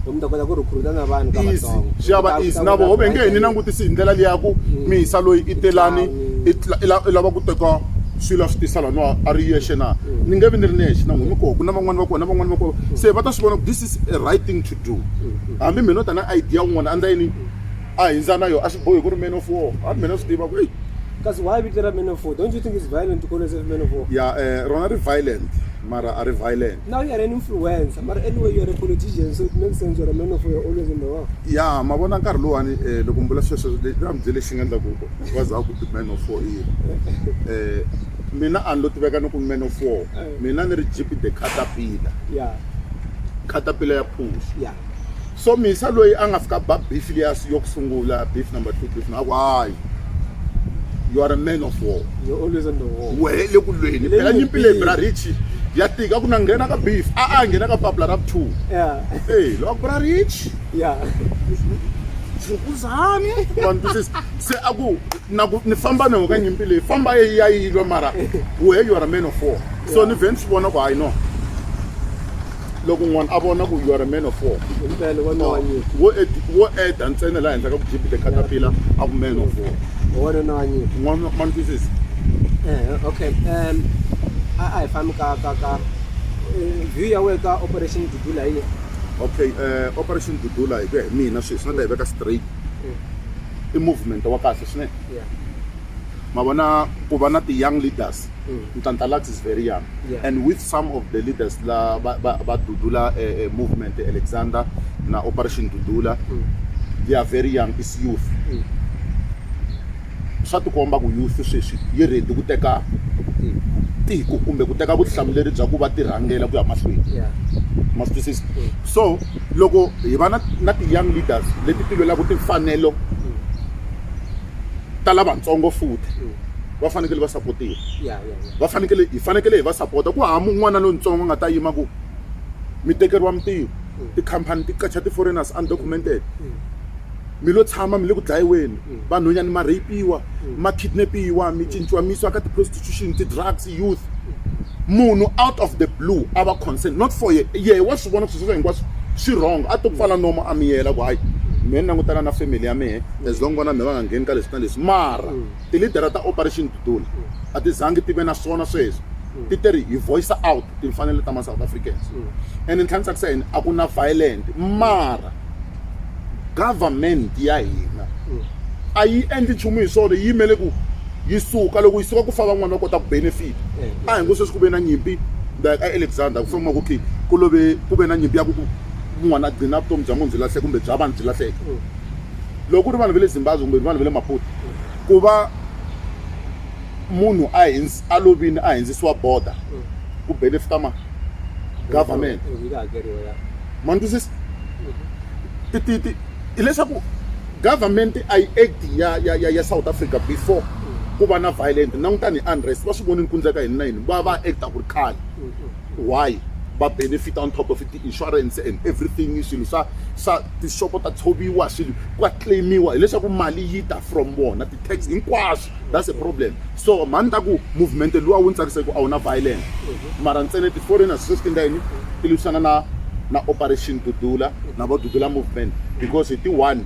Easy, swi ya va easy. Na voho ve nge hi ni langutisi hi ndlela liya ya ku mi hisa loyi i te lani i lava ku teka swilo a swi tisa laniwa a ri yexe na. Ni nge vi ni ri nexe na n'wina mi koho ku na van'wana va koho na van'wana va koho se va ta swi vona ku this is a right thing to do hambi mehe no ta na idea yin'wana a ni ta yini. a hindza na yona a swi bohi ku ri man of war a mina swi tiva ku eyi kasi why vito ra man of war don't you think is violent to call yourself man of war ya um rona ri violent mara a ri violent now you are an influencer mara anyway you are a politician so it makes sense you're a man of war you're always in the war ya ma vona nkarhi lowani um eh, loko mi vula sweswo ra mi bye lexi nga endlaku va za ku man of war i um mina a ni lo tiveka ni ku man of war eh. mina ni ri jeep the catapila ya catapila ya phuxi ya so misa loyi a nga fika ba beef leyi asi yo kusungula beef number 2 beef na why you are a man of war you always on the war wehe le ku lweni phela nyimpi leyi bra richi ya tika ku na nghena ka beef a a nghena ka papula ra two yeah hey lo bra richi yeah ukuzani wantwisisa se a ku na ku ni famba na ka nyimpi leyi famba yi ya yilwa mara wehe you are a man of war so ni vhe ni swi vona ku hayi no loko n'wana a vona ku you are a man of war wo ed- wo eda ntsena laha henhla ka ku jibile katapila a ku man of war wanuna wa nyika n'wana ma ni twisisi Eh, okay um a a hi fambi ka ka ka eh, view ya wehe ka operation dudula yi okay eh, operation dudula hi ku ya hi mina sweswi na ta yi veka straight i movement wa kahle swinene Yeah. ma vona ku va na ti-young leaders mm. Ntantalax is very young yeah. and with some of the leaders la ba, ba, ba Dudula uh, uh, movement Alexander na Operation Dudula mm. they are very young is youth mm. swa tikomba ku youth sweswi yi ready ku teka tiko kumbe ku teka vutihlamuleri bya ku va tirhangela ku ya mahlweni ma swi twisisa so loko hi va na na ti-young leaders leti ti lwelaka timfanelo ta lavatsongo futhi va fanekele va sapotiwa va fanekele hi fanekele hi va sapota ku hava n'wana lontsongo a nga ta yima ku mi tekeriwa mintirho mm. tikhampani ti qacha ti-foreigners undocumented mm. mm. mi lo tshama mi le ku dlayiweni vanhonyani ma rapiwa ma kidnapiwa mi cinciwa mi yisiwa ka ti-prostitution ti-drugs youth munhu out of the blue a va concern not for ye ye wa swi vona sweswo hinkwaswo swi wrong a to pfala nomo a miyela ku hayi mehe ni langutana na family ya mehe as long vana mi va nga ngheni ka leswi na leswi mara Tilidara ta Operation Dudula a ti zangi ti ve na swona sweswo. Ti te ri hi voice-a out timfanelo ta ma-South Africans and ntlha ni tsakisa yini a ku na violent mara government ya hina a yi endli nchumu hi swona yi yimele ku yi suka loko yi suka ku fa van'wana va kota ku benefit a hi ngo sweswi ku ve na nyimpi like a alexander ku famba ku khe ku love ku ve na nyimpi ya ku ku n'wana a gcina vutomi bya munhu byi lahleke kumbe bya vanhu byi lahleke loko ku ri vanhu va le zimbabwe kumbe vanhu va le maputo ku va munhu a a lovini a hindzisiwa border ku benefita ma government ma ni twisisa mhm. hileswaku government a yi act ya ya ya ya south africa before ku va na violent langutani hi unrest va swi voni ni kundzeka hini na yini va va acta ku ri khale mhm. why va benefit on top of it ti-insurance and everything swilo swa swa tixopo ta tshoviwa swilo ka claim-iwa hileswaku mali yi ta from vona ti-tax hinkwaswo that's a problem so mhani ta ku movement luwa wu ni tsakisa hi ku a wu na violence mara ntsena ti-foreigners sweswi ti endla yini ti lwisana na na operation dudula na vo dudula movement because hi ti-one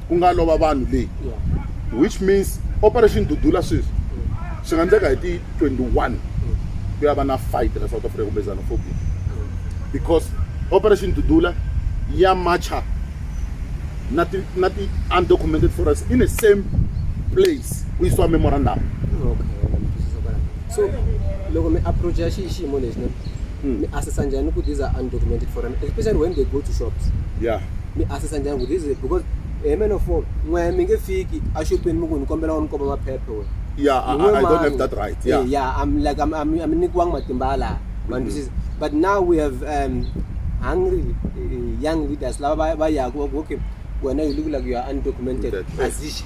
ku nga lova vanhu leyi which means operation dudula sweswi swi nga ndleka hi ti 21 ku ya va na fight la south africa kumbe xenophobia because operation dudula ya matcha na ti na ti undocumented forests in the same place ku yisiwa memorandum so loko mi approach ya xiyimo lexi mm. mi assessa njhani ku these are undocumented foreigner especially when they go to shops yeah mi assessa njhani ku these because a eh, man of all n'we mi nge fiki exopeni mi ku ni kombela wa ni komba maphephe we yeah I, I, I don't have that right yeah hey, eh, yeah i'm like i'm i'm, I'm nikiwanga matimba ala man mm -hmm. but now we have um hungry uh, young leaders lava va yaku okay wena you look like you are undocumented azishi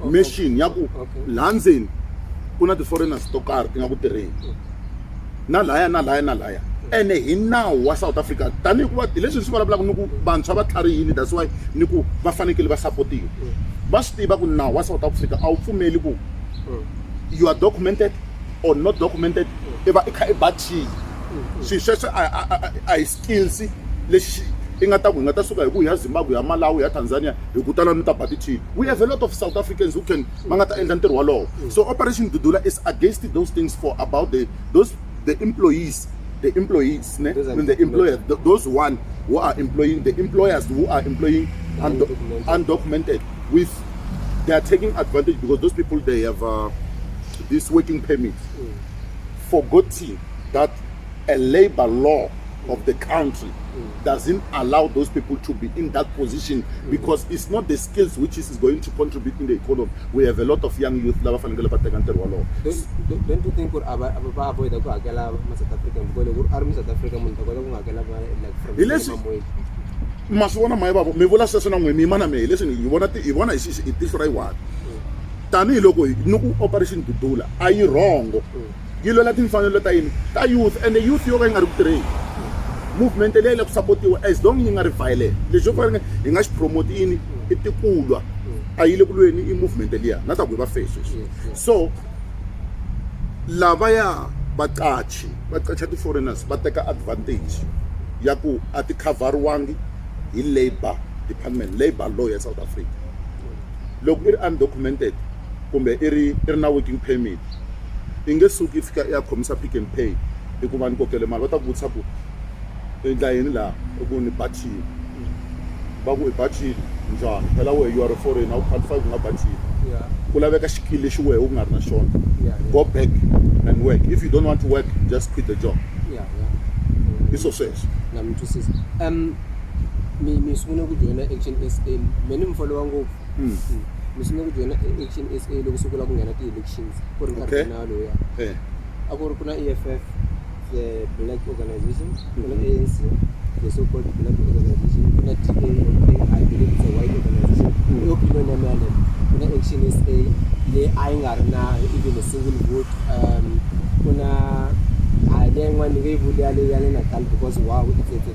oh, machine ya ku laha ndzeni ku na ti-foreigners to karhi ti nga ku tirheni na laya na laya na laya ene hi nawu wa south africa tanihi ku va hi leswi ni swi vulavulaka ni ku vantshwa va tlharihile that's why ni ku va fanekele va sapotiwa va swi tiva ku nawu wa south africa a wu pfumeli ku you are documented or not documented i va i kha i ba cheese swilo sweswo a hi skills lexi i nga ta ku hi nga ta suka hi ku ya zimbabwe ya malawi ya tanzania hi ku tala ni ta ba tithini we have a lot of south africans who can va nga ta endla ntirho wolowo so operation dudula is against those things for about the those the employees the employees ne? and the employers th those one who are employing the employers who are employing undo undocumented with they are taking advantage because those people they have uh, this working permit mm. forgotten that a labor law of the country doesn't allow those people to be in that position because it's not the skills which is going to contribute in the economy. We have a lot of young youth lava fanekele va teka ntirho walowo. Don't, don't you think ku ava va avoid ku hakela ma South Africa because loko ari mu South Africa munhu ta kota ku hakela va like from Mamweli. Ma swi vona maye bavo mi vula sweswo na n'we mi yima na mehe leswi hi vona hi vona hi tihlo ra yi one tanihiloko ni ku operation dudula a yi rhongo. yi lwela timfanelo ta yini ta youth and youth yo ka yi nga ri ku tirheni movement leyi la ku sapotiwa as long yi nga ri violent lexi yo fanele hi nga xi promote yini i tikulwa a yi le ku lweni i movement liya na ta ku hi va face so lavaya vaqachi va qacha ti-foreigners va teka advantage ya ku a ti khavhariwangi hi labour department labour law ya south africa loko i ri undocumented kumbe i ri i ri na working permit i nge suki i fika i ya khomisa Pick n Pay i ku va ni kokele mali va ta ku vutisa ku i endla yini laha i ku ni bathile va ku i bathile njhani phela wehe you are a foreigner a wu qualify ku nga bathile ku laveka xikili lexi wehe u nga ri na xona go back and work if you don't want to work just quit the job i swo sweswo na mi twisisa um mi mi sungule ku joyina action s a me ni mi folowa ngopfu Mm. Mm. mi sungule ku joyina e- action s a loko se ku lava ku nghena ti-elections ku ri nkarhi Okay. wa nawu lowuya Eh. a ku ri ku na e f f the black organization ku na Mhm. anc the so called black organization ku na d a or a i believe it's a white organization Mm. i opinion ya mina yaleyo ku na action s a leyi a yi nga ri na even a single vote um ku na a leyi yin'wana ni nge yi vuli yaleyo ya le natal because wow it's a- it's a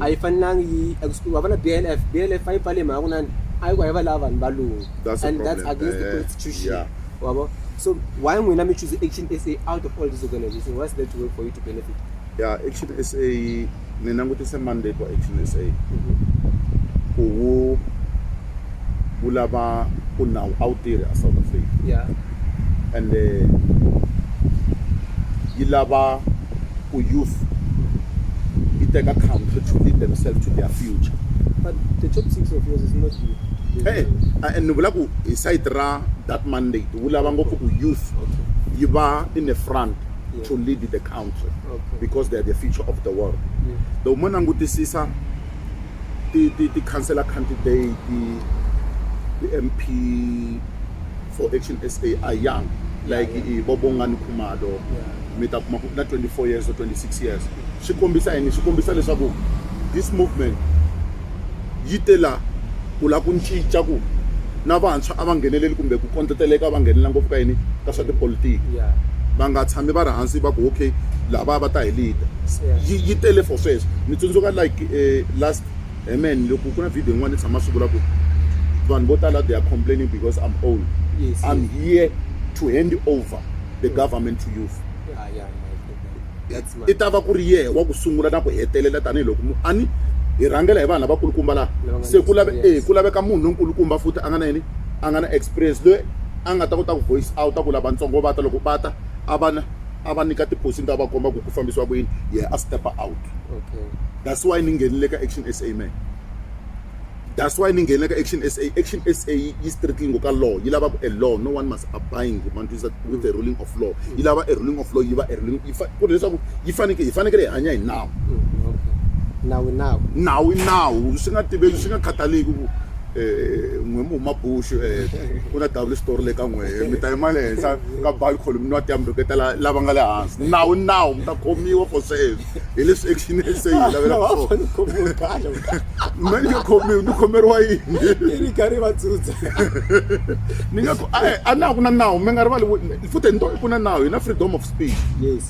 a yi fanelanga yi wa vona blf blf a yi pfale mhaka kunani a yi ku a yi va lava vanhu valungu That's a and that's problem. against the Eh, constitution yeah. wabo so why n'wina mi choose action sa out of all this organization what's that way for you to benefit ya action sa ni langutise mandate wa action sa ku wu wu lava ku nawu a wu tirhi a south africa yeah ende yi lava ku youth yi teka country to lead themselves to their future but the top six of yours is not you Hey, eh, eh, eh, ni vula ku hi site ra that mandate wu lava ngopfu ku youth yi va in the front to lead the country because they are the future of the world the mo langutisisa ti-councilor candidate ti-m p for action sa are young like ibobongani khumalo mi ta kuma ku na 24 years or 26 years swi kombisa yini swi kombisa leswaku this movement yi te la ku la ku ncinca ku na vantshwa a va ngheneleli kumbe ku kondleteleka va nghenelela ngopfu ka yini ka swa tipolitiki va nga tshami va ri hansi va ku okay lava va ta hi lida yi yi tele for sweswo ni tsundzuka like eh, last amen eh, loko ku na video yin'wana ni tshama swi vula ku vanhu vo tala they are complaining because i'm old yes, i'm yes. here to hand over the government to youth i ta va ku ri yehe wa ku sungula na ku hetelela tanihiloko mu ani hi rhangela hi vanhu lavakulukumba laha se ku lave e ku laveka munhu lonkulukumba futhi a nga na yini a nga na experience loyi a nga ta kota ku voice out a ku lavatsongo va ta loko va ta a va na a va nyika tiphosini ta va komba ku ku fambisiwa ku yini yehe a step out that's why ni nghenile ka action sa man That's why ni nghene ka Action SA. Action SA yi yi strictly ngo ka law yi lava ku a law no one must abide ma ni twisisa with the ruling of law yi lava a ruling of law yi va a ruling yi fa ku ri leswaku yi faneke hi fanekele hi hanya hi nawu nawu i nawu nawu i nawu swi nga tiveki swi nga khathaleki ku um n'we mi huma bush um ku na dawu lexitori le ka n'we mi ta yima le henhla ka balcony mi nwa tiyambi rhuketa lava nga le hansi nawu i nawu mi ta khomiwa for sweswo hi leswi action se yi lavela ku swo khomiwe kahle mali yo khomiwa ni khomeriwa yini yi ri karhi va tsutsa ni nga a na ku na nawu mi nga rivali futhi ni to ku na nawu hi na freedom of speech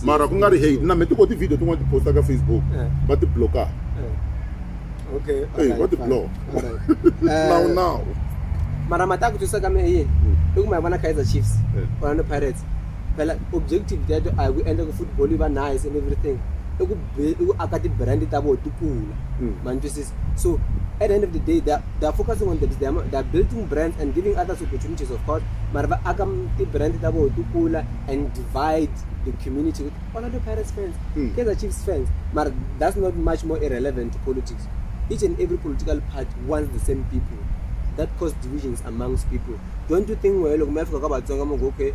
mara ku nga ri hate na me ti ko ti-video tin'wana ti posta ka facebook va ti blockaka okay hey, right, what the block now eh, now mara mata ku twisa ka me yini i ku ma vona kaizer chiefs ona pirates phela objective ya to a hi ku endla ku football yi va nice and everything i ku i ku aka ti-brand ta vona ti kula mm. ma ni twisisa so at the end of the day they're, they're focusing on them they're, they're building brands and giving others opportunities of course mara va aka ti-brand ta vona ti kula and divide the community with orlando pirates fans mm. kaizer chiefs fans mara that's not much more irrelevant to politics each and every political party wants the same people that cause divisions amongst people don't you think wehe loko mi ya fika ka vatsonga mu ku okay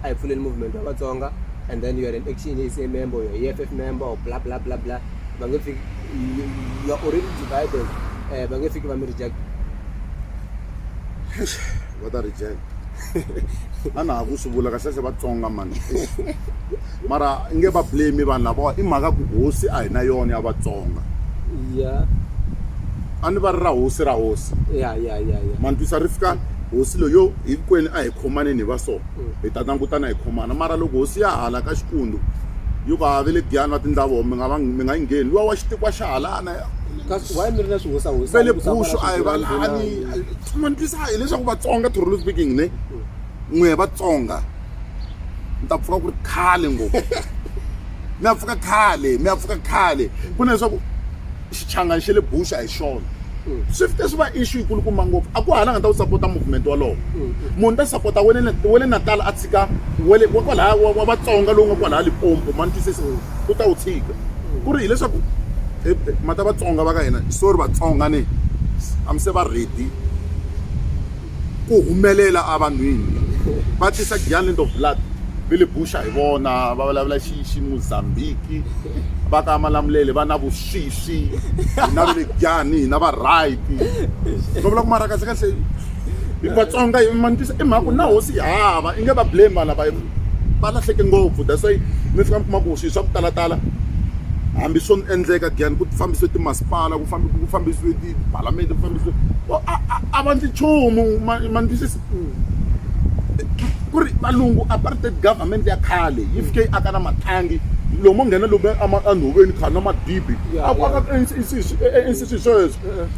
a hi pfuleni movement wa vatsonga and then you are an action is a member or e f f member or bla bla bla bla va nge fiki you are already divided eh, va nge fiki va mi reject va ta reject a na ha ku swi vula kahlekahle vatsonga mani Mara i nge va blame vanhu lavawa i mhaka ku hosi a hi na yona ya Vatsonga. Iya. A ni va ri ra hosi ra hosi. Ya ya ya ya. Ma ni twisa ri fika hosi lo yo hinkwenu a hi khomaneni hi va so hi ta langutana hi khomana mara loko hosi ya hala ka Xikundu yo va ve le Giyani va tindla voho mi nga va mi nga yi ngheni luwa wa xitikwa xa halana Kasi why mi ri na swihosahosa ve le Bushu a hi va lani ma ni twisa hileswaku Vatsonga truly speaking ne. n'we vatsonga mi ta pfuka ku ri khale ngopfu mi ya pfuka khale mi ya pfuka khale ku na leswaku xichangani xa le buxa hi xona swi fike swi va issue yikulukumba ngopfu a ku hala nga ta wu sapota movement walowo munhu ta sapota wa le natal a tshika wale wa kwalaya wa vatsonga lowu nga kwalaya lipompo ma ni twisisa u ta wu tshika ku ri hileswaku mata vatsonga va ka hina sorry vatsonga ni a mi se va ready ku humelela a vanhwini va tisa giant of blood ve le buxa hi vona va vulavula xi xi mozambique va ka malamulele va na vuswisi hi na vele giani hi na va right va vula ku mara kasi kasi hi vatsonga hi ma ni tisa i mhaka ku na hosi yi hava i nge va blame vana va va lahleke ngopfu that's why mi fika mi kuma ku swi swa ku talatala hambi swo endleka giani ku fambisiwe timasipala ku ku fambisiwe tipalamende ku fambisiwe a va ndzi nchumu ma ni twisisa ku ri valungu apartheid government ya khale yi fike yi aka na mathangi lomo nghena lomu enhoveni khani na madibi a ku aka ncc sweswo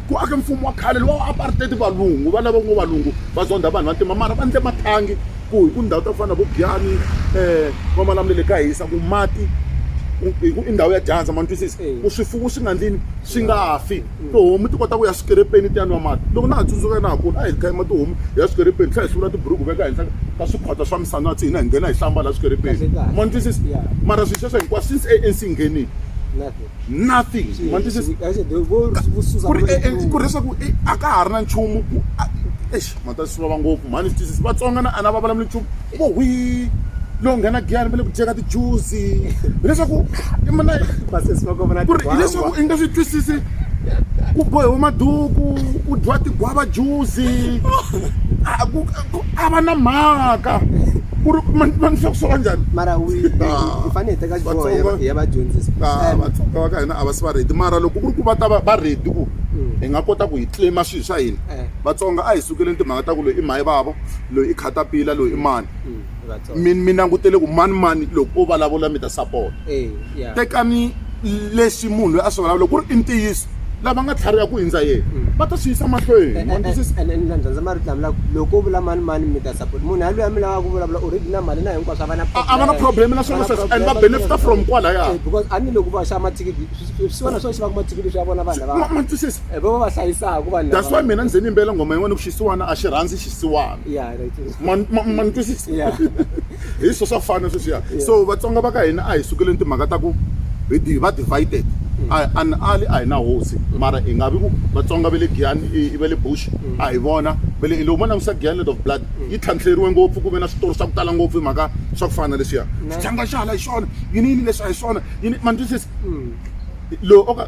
ku ake mfumo wa khale lowa apartheid valungu va lava ngo valungu va zondha vanhu vantima mara va ndle mathangi ku hi ku ndhawu ta ku fana na vo Giyani va Malamulele ka hisa ku mati hi ku i ndhawu ya dyandza ma ni twisisa ku swifuwo swi nga ndlini swi nga fi tihomu ti kota ku ya swikelepeni ti ya nwa mati loko na ha tsundzuka na ha kula a hi kha yima tihomu hi ya swikelepeni tlhela hi hluvula tiburuku veka henhla ka swikhwatsa swa misanatsi hina hi nghena hi hlamba laha swikelepeni ma ni twisisa mara swilo sweswo hinkwaswo since ANC yi nghenile nothing ma ni twisisa ku ri leswaku a ka ha ri na nchumu exi. mhata swi vava ngopfu mhani swi twisisi vatsonga na a na va vulavuli nchumu u vo hwi lowu nghena giyani va le ku dyeka tijuzi hileswaku imana ku ri hileswaku i nga swi twisisi ku bohiwe maduku ku dyiwa tigwava juzi a ku ku- a va na mhaka ku ri ma- ma ni swa ku swa va njhani mara wi hi fanele hi teka xiboho hi ya va- hi ya va dyondzisa Ah, And- vatsonga va ka hina a va si va redi mara loko ku ri ku va ta va va redi ku hi nga kota ku hi tlima swilo swa hina Vatsonga a hi sukeleni timhaka ta ku loyi i mhani vava loyi i khatapila loyi i mani mi mi langutele ku mani mani loko o vulavula mi ta support tekani lexi munhu loyi a swi vulavula ku ri i ntiyiso lava nga tlhariha ku hindza yena va ta swi yisa mahlweni ma twisisa ene na dyondza marito lama laku loko u vula mani mani mi ta support munhu ya loyi a mi lavaka ku vulavula already na mali na hinkwaswo a va na a va na problem na swona sweswo and va benefita from kwalaya because a ni loko va xava mathikithi swi swona swo xavaka mathikithi swi ya vona vanhu lava ma twisisa Eh, va va va hlayisaka vanhu that's lava- why mina ni ze ni yimbela nghoma yin'wana ku xisiwana a xi rhandzi xisiwana Yeah, right. Ma- ma- ma ni twisisa Yeah. hi swo swa fana sweswiya so vatsonga va ka hina a hi sukeleni timhaka ta ku hi di- va divided A- an ali a hi na hosi mara hi nga vi ku vatsonga va le giyani i- i va le bush a hi vona va le loko mo langusa giyanet of blood yi tlhantlheriwe ngopfu ku ve na switori swa ku tala ngopfu hi mhaka swa ku fana leswiya xitlhanga xa hala hi xona yini yini leswi a hi swona yini ma ni twisisa lowu o ka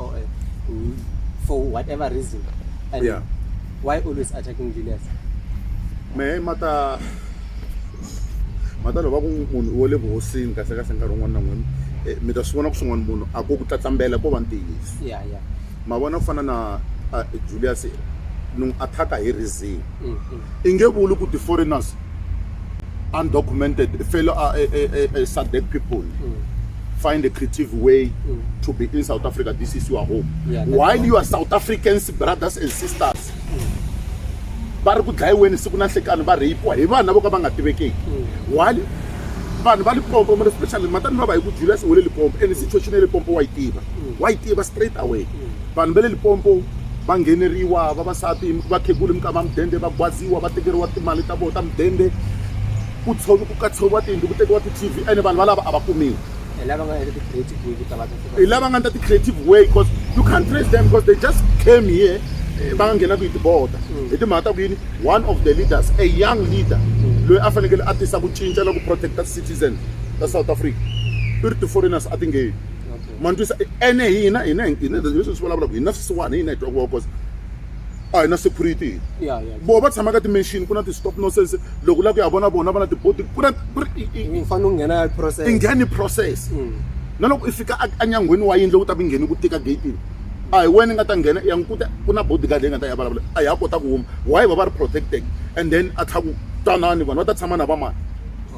or a, uh, for whatever reason. And yeah. why always attacking Julius? Me mata mata loko ku munhu wo le vuhosini kasi kasi nkarhi wun'wana na n'wini eh, mi ta swi vona ku swin'wana munhu a ko ku tlatlambela ko va ntiyiso ma vona ku fana na Julius ni n'wi attack-a hi reason i nge vuli ku ti-foreigners undocumented fellow uh, uh, uh, uh, SADC people mm. find a creative way mm. to be in South Africa. This is your home. Yeah, While you are South Africans, brothers and sisters, va ri ku dlayiweni siku na nhlekani va rheyipiwa hi vanhu lavo ka va nga tivekeki while vanhu va lipompo mara especially matani va va hi ku julius u le lipompo and situation ya lipompo wa yi tiva wa yi tiva straight away vanhu va le Limpopo va ngheneriwa vavasati vakhegula minkama mudende va gwaziwa va tekeriwa timali ta vona ta mudende ku tshovi ku katseriwa tiyindlu ku tekiwa ti-tv ene vanhu valava a va kumiwi hi lava nga endla ti-creative way ku ta va ta tiva hi lava nga endla ti-creative way because you can't trace them because they just came here eh, va nga nghenaka hi tibota hi timhaka ta ku yini one of the leaders a young leader loyi a fanekele a tisa ku cinca na ku protecta citizen ta south africa i ri ti-foreigners a ti ngheni ma ni twisa ene hina hina hina leswi swi vulavulaka hina swisiwana hina hi twa ku va kosa a hi na security voho va tshama ka ti-machine ku na ti-stop nonsense loko u lava ku ya vona vona va na tibodi ku na ku ri i fanele u nghena process i ngheni process mm. na loko i fika enyangweni wa yindlu u ta mi ngheni ku tika gatini a hi wena i nga ta nghena ya n'wi kuta ku na bodyguard leyi nga ta ya vulavula a ya kota ku huma why va va ri protected and then a tlha ku twanani vanhu va ta tshama na va mani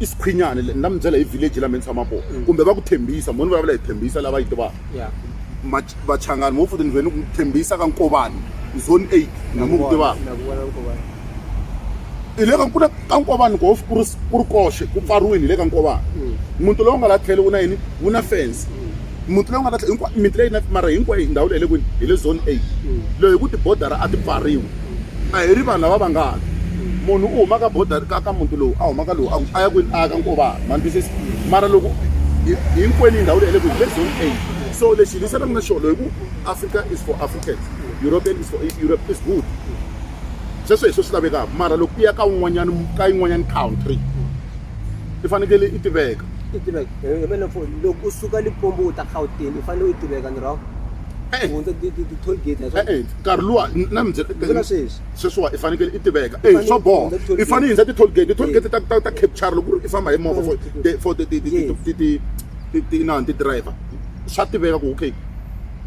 isiqhinyane ni nga mi byela hi village la mi ni tshama kona kumbe va ku thembisa mo ni vulavula hi thembisa lava yi tivaka vachangani mo futhi ni vhe ni ku thembisa ka nkovani zone eight na mi ku tivaka hi le ka ku ka nkovani ko ku ri ku ri koxe ku pfariwini hi le ka nkovani muti lowu nga la tlhelo wu na yini wu na fence muti lowu nga na hinkwayo miti leyi na mara hinkwayo ndhawu leyi hi le kwini hi le zone eight leyi hi ku tibodara a ti pfariwi a hi ri vanhu lava va nga ti munhu u huma ka bodara ka ka muti lowu a huma ka lowu a ku a ya kwini a ya ka nkovana ma ni twisisa mara loko hinkwenu ndhawu leyi hi le kwini hi le zone eight so lexi hi lisanaka na xona hi ku africa is for africans european is for europe is good sweswo hi swo swi lavekaka mara loko u ya ka un'wanyana ka yin'wanyana country i fanekele i tiveka i tiveka hi mele mfoni loko u suka lipombo u ta gauteng i fanele u tiveka ni rhongo eh. hundza ti-toll gate eh, eh, nkarhi luwa na mibyela sweswi sweswiwa i fanekele i tiveka e swa boha i fanele i hundza ti-toll gate ti-toll gate ta ta capture loko i famba hi movha for ti-inani ti-driver swa tiveka ku okay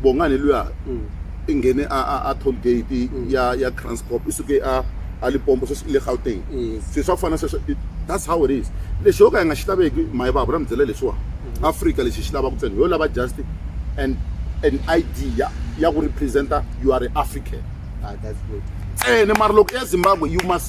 bongani luya mm. i nghene a a a toll gate ya ya Kranskop i suke a a Limpopo sweswi i le Gauteng se swa ku fana sweswo that's how it is lexi yo ka hi nga xi laveki mayi vava na mi byela leswiwani Afrika lexi hi xi lavaka ntsena hi yo lava just and an ID ya ya ku represent you are African ntsena mara loko i ya Zimbabwe you must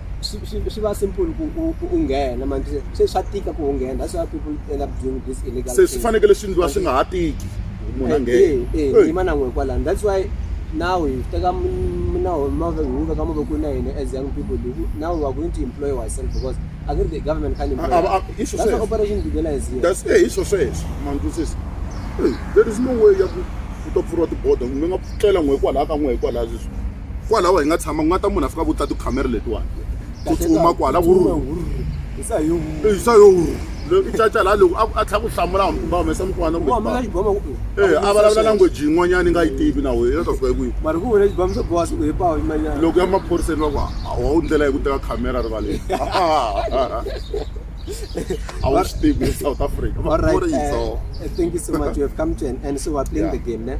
swi swi swi va simple ku u u nghena manje se- se swa tika ku u nghena that's why people end up doing this illegal se swi thing. fanekele swi ndliwa swi nga ha tiki munhu a Eh, nghena eh, eh, Hey. yima na n'we kwalano that's why now hi teka minawu mave hi wu veka mavokweni ya hina as young people hi ku- now we are going to employ ourselves because i think the government can employ A- a- a- hi swo that's why sweswo. operation Dugela is here That's eh, hi swo sweswo mandlusisi there is no way ya ku u ta pfuriwa tibodo mi nga tlela n'we kwalaha ka n'we hikwalaha leswi kwalaho hi nga tshama ku nga ta munhu a fika vuta tikhamera letiwani ku tsutsuma kwala isa yo isa yo i caca laha loko a tlhela ku hlamula hambi kumbe a humesa mukwana ku eh a vulavula language yin'wanyana yi nga yi tivi na wena ta fika hi kwihi mara ku vona xibamu swa bowa siku hipawo yimanyana loko ya maphoriseni va ku a wu ndlela yi ku teka khamera rivaleni I will stick with South Africa. All right. Uh, thank you so much. You have come to an end. So we're playing yeah. the game, ne?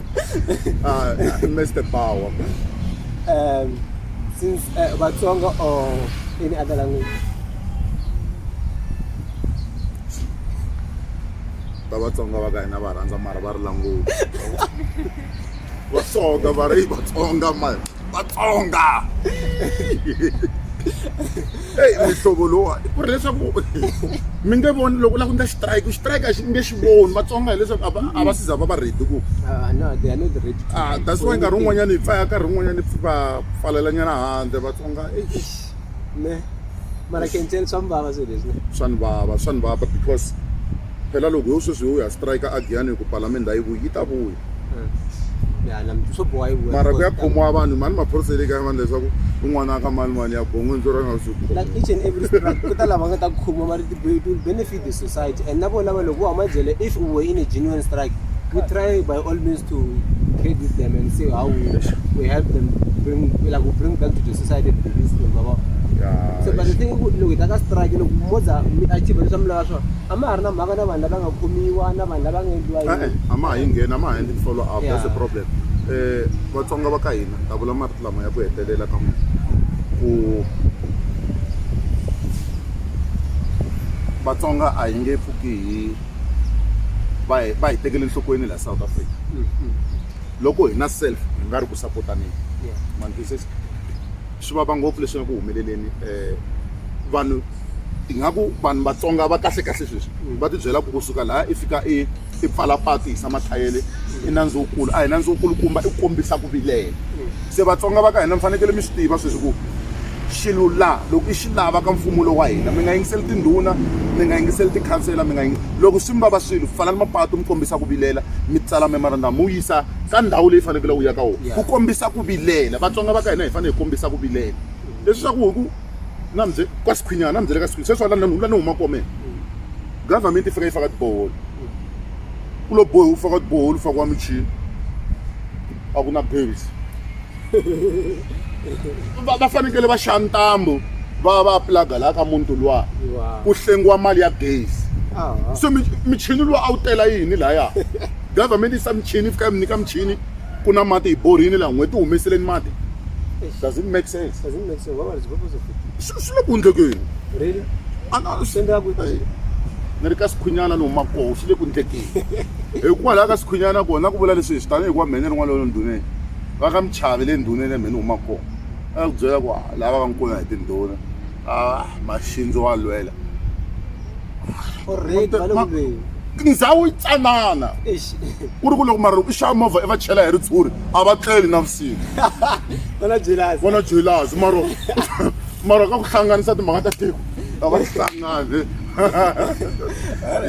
uh, Mr. Power. Um, since uh, Batsonga or any other language? ta vatsonga va ka hina va rhandza mara va ri languti vatsonga va ri vatsonga mani vatsonga eyi mihlovo lowuwani ku ri leswaku mi nge voni loko u lava ku endla xitirayiki xitirayiki a xi nge xi voni vatsonga hileswaku a va a va siza va va redi ku ah, ah, that's why nkarhi wun'wanyana hi pfaya nkarhi wun'wanyana hi va pfalelanyana handle vatsonga ne mara kenteni swa mbava swilo leswi swa ni vava swa ni vava because phela loko yo sweswi yo ya strike a giyani hi ku palamende a yi vuyi yi ta vuya mara ku ya khomiwa vanhu mani maphorisa le kaya vanhu leswaku un'wana a ka mani mani ya bongo ndzo ra nga swi ku ta lava nga ta khomiwa mari will benefit the society and na vona va loko va huma jele if u were in a genuine strike we try by all means to credit them and say how we, we help them bring like we bring back to the society the peaceful baba so but the thing loko hi ta ka strike loko moza mi achieve leswi a mi lava swona A ma ha ri na mhaka na vanhu lava nga khomiwa na vanhu lava nga endliwa yini. E-e, a ma ha yi ngheni, a ma ha endli ti-follow up. That's the problem. Um Vatsonga va ka hina, ni ta vula marito lama ya ku hetelela ka n'wina, ku Vatsonga a hi nge pfuki hi va hi va hi tekele enhlokweni laha South Africa. Loko hi na self hi nga ri ku support-aneni. Ma ni twisisa? swi vava ngopfu leswi nga ku humeleleni um vanhu hi nga ku vanhu vatsonga va kahle kahle sweswi mm. va tibyela ku kusuka laha i fika i i pfala patu hisa mathayele i nandzu wukulu a hi nandzu wukulukumba i kombisa ku vilela mm. se vatsonga va ka hina mi fanekele mi swi tiva sweswi ku xilo laha loko i xi lava ka mfumo lowu wa hina mi nga yingiseli tindhuna mi nga yingiseli tikhansela mi nga loko swi mi vava swilo pfalani mapatu mi kombisa ku vilela mi tsala memorandum mi wu yisa ka ndhawu leyi fanekele u ya ka wona ku kombisa ku vilela vatsonga va ka hina hi fanele hi kombisa ku vilela leswaku hi ku na mze ka sikhwinyana na mzele ka sikhwinyana sweswi lani lani huma komela government yi fika yi faka tiboholo ku lo bohi u faka tiboholo u fakiwa michini a ku na bails va va fanekele va xava ntambu va va pulaga laha ka muti luwa ku hlengiwa mali ya gezi so michini lowu a wu tela yini lahaya government yi sa michini fika mi nyika michini ku na mati hi borini laha n'hweti humeseleni mati does it make sense does it make sense what is purpose of it swi le ku ndlekeni really ana swi endla ku ni ri ka sikhwinyana ni huma koho swi le ku ndlekeni hikwalaho ka sikhwinyana kona ku vula leswi hi swi tanihi ku va mhene rin'wana lolo ndhuneni va ka Mchavi le ndhuneni ya mhani huma kona va ya ku byela ku lava va nkuna hi tindhuna a maxindzi wa lwela ndhawu yi tsanana ku ri ku loko mara loko i xava movha i va chela hi ritshuri a va tleli na vusiku vona jelasi mara mara ka ku hlanganisa timhaka ta tiko a va hlangani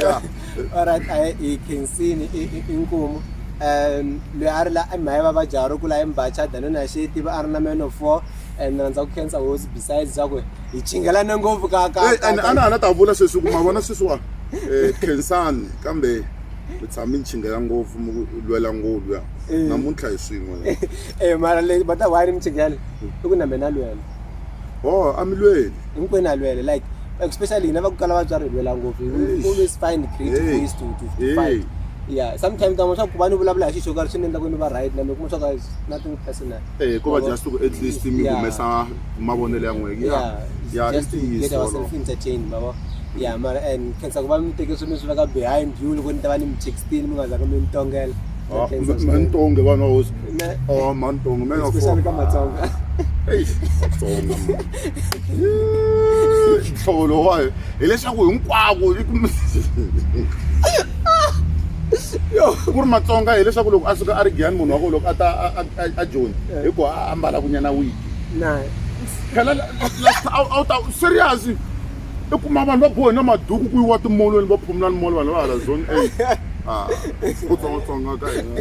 ya alright a hi khensini inkomu um loyi a ri la i mhaya vavabyi a ri kula i mbacha dano na xi tiva a ri na man of four and rhandza ku khensa hosi besides swa ku hi chingelane ngopfu ka ka and a na ha na ta vula sweswi ku ma vona sweswiwa um khensani kambe mi tshami ni chingela ngopfu mi lwela ngopfu ya namuntlha hi swin'we e mara le va ta why ni mi chingela i ku na mina lwela oh amilweli hinkwenu a lwele like especially hina va ku kala vatswari hi lwela ngopfu we always find creative ways to to to fight yeah sometimes kan'we swa ku va ni vulavula hi xi xo karhi swi ni endla ku ni va right na mi kuma swa ku nothing personal eh ko va just ku at least mi humesa mavonelo ya n'wina yeah yeah just to get ourselves entertained baba yeah mara and khensa ku va mi teke swilo swi veka behind you loko ni ta va ni mi textile mi nga zanga mi ni tongela Ah, Thanks, man- man, Tonge, one of those. Ne- Oh, man, Tonge, man, of especially ka course. matsonga Eish, Tonge, man. Yee, nhlolo wayo hileswaku hinkwako yi ku- ku ri matsonga hileswaku loko a suka a ri giyani munhu wa ko loko a ta a- a- a- a joni hi ku a ambala kunyana wiki na phela la- la- la- a wu ta serious i kuma vanhu va bohe na maduku ku yiwa timolweni va phumula ni molo vanhu va hala zone a ah, ku tsongatsonga ka hina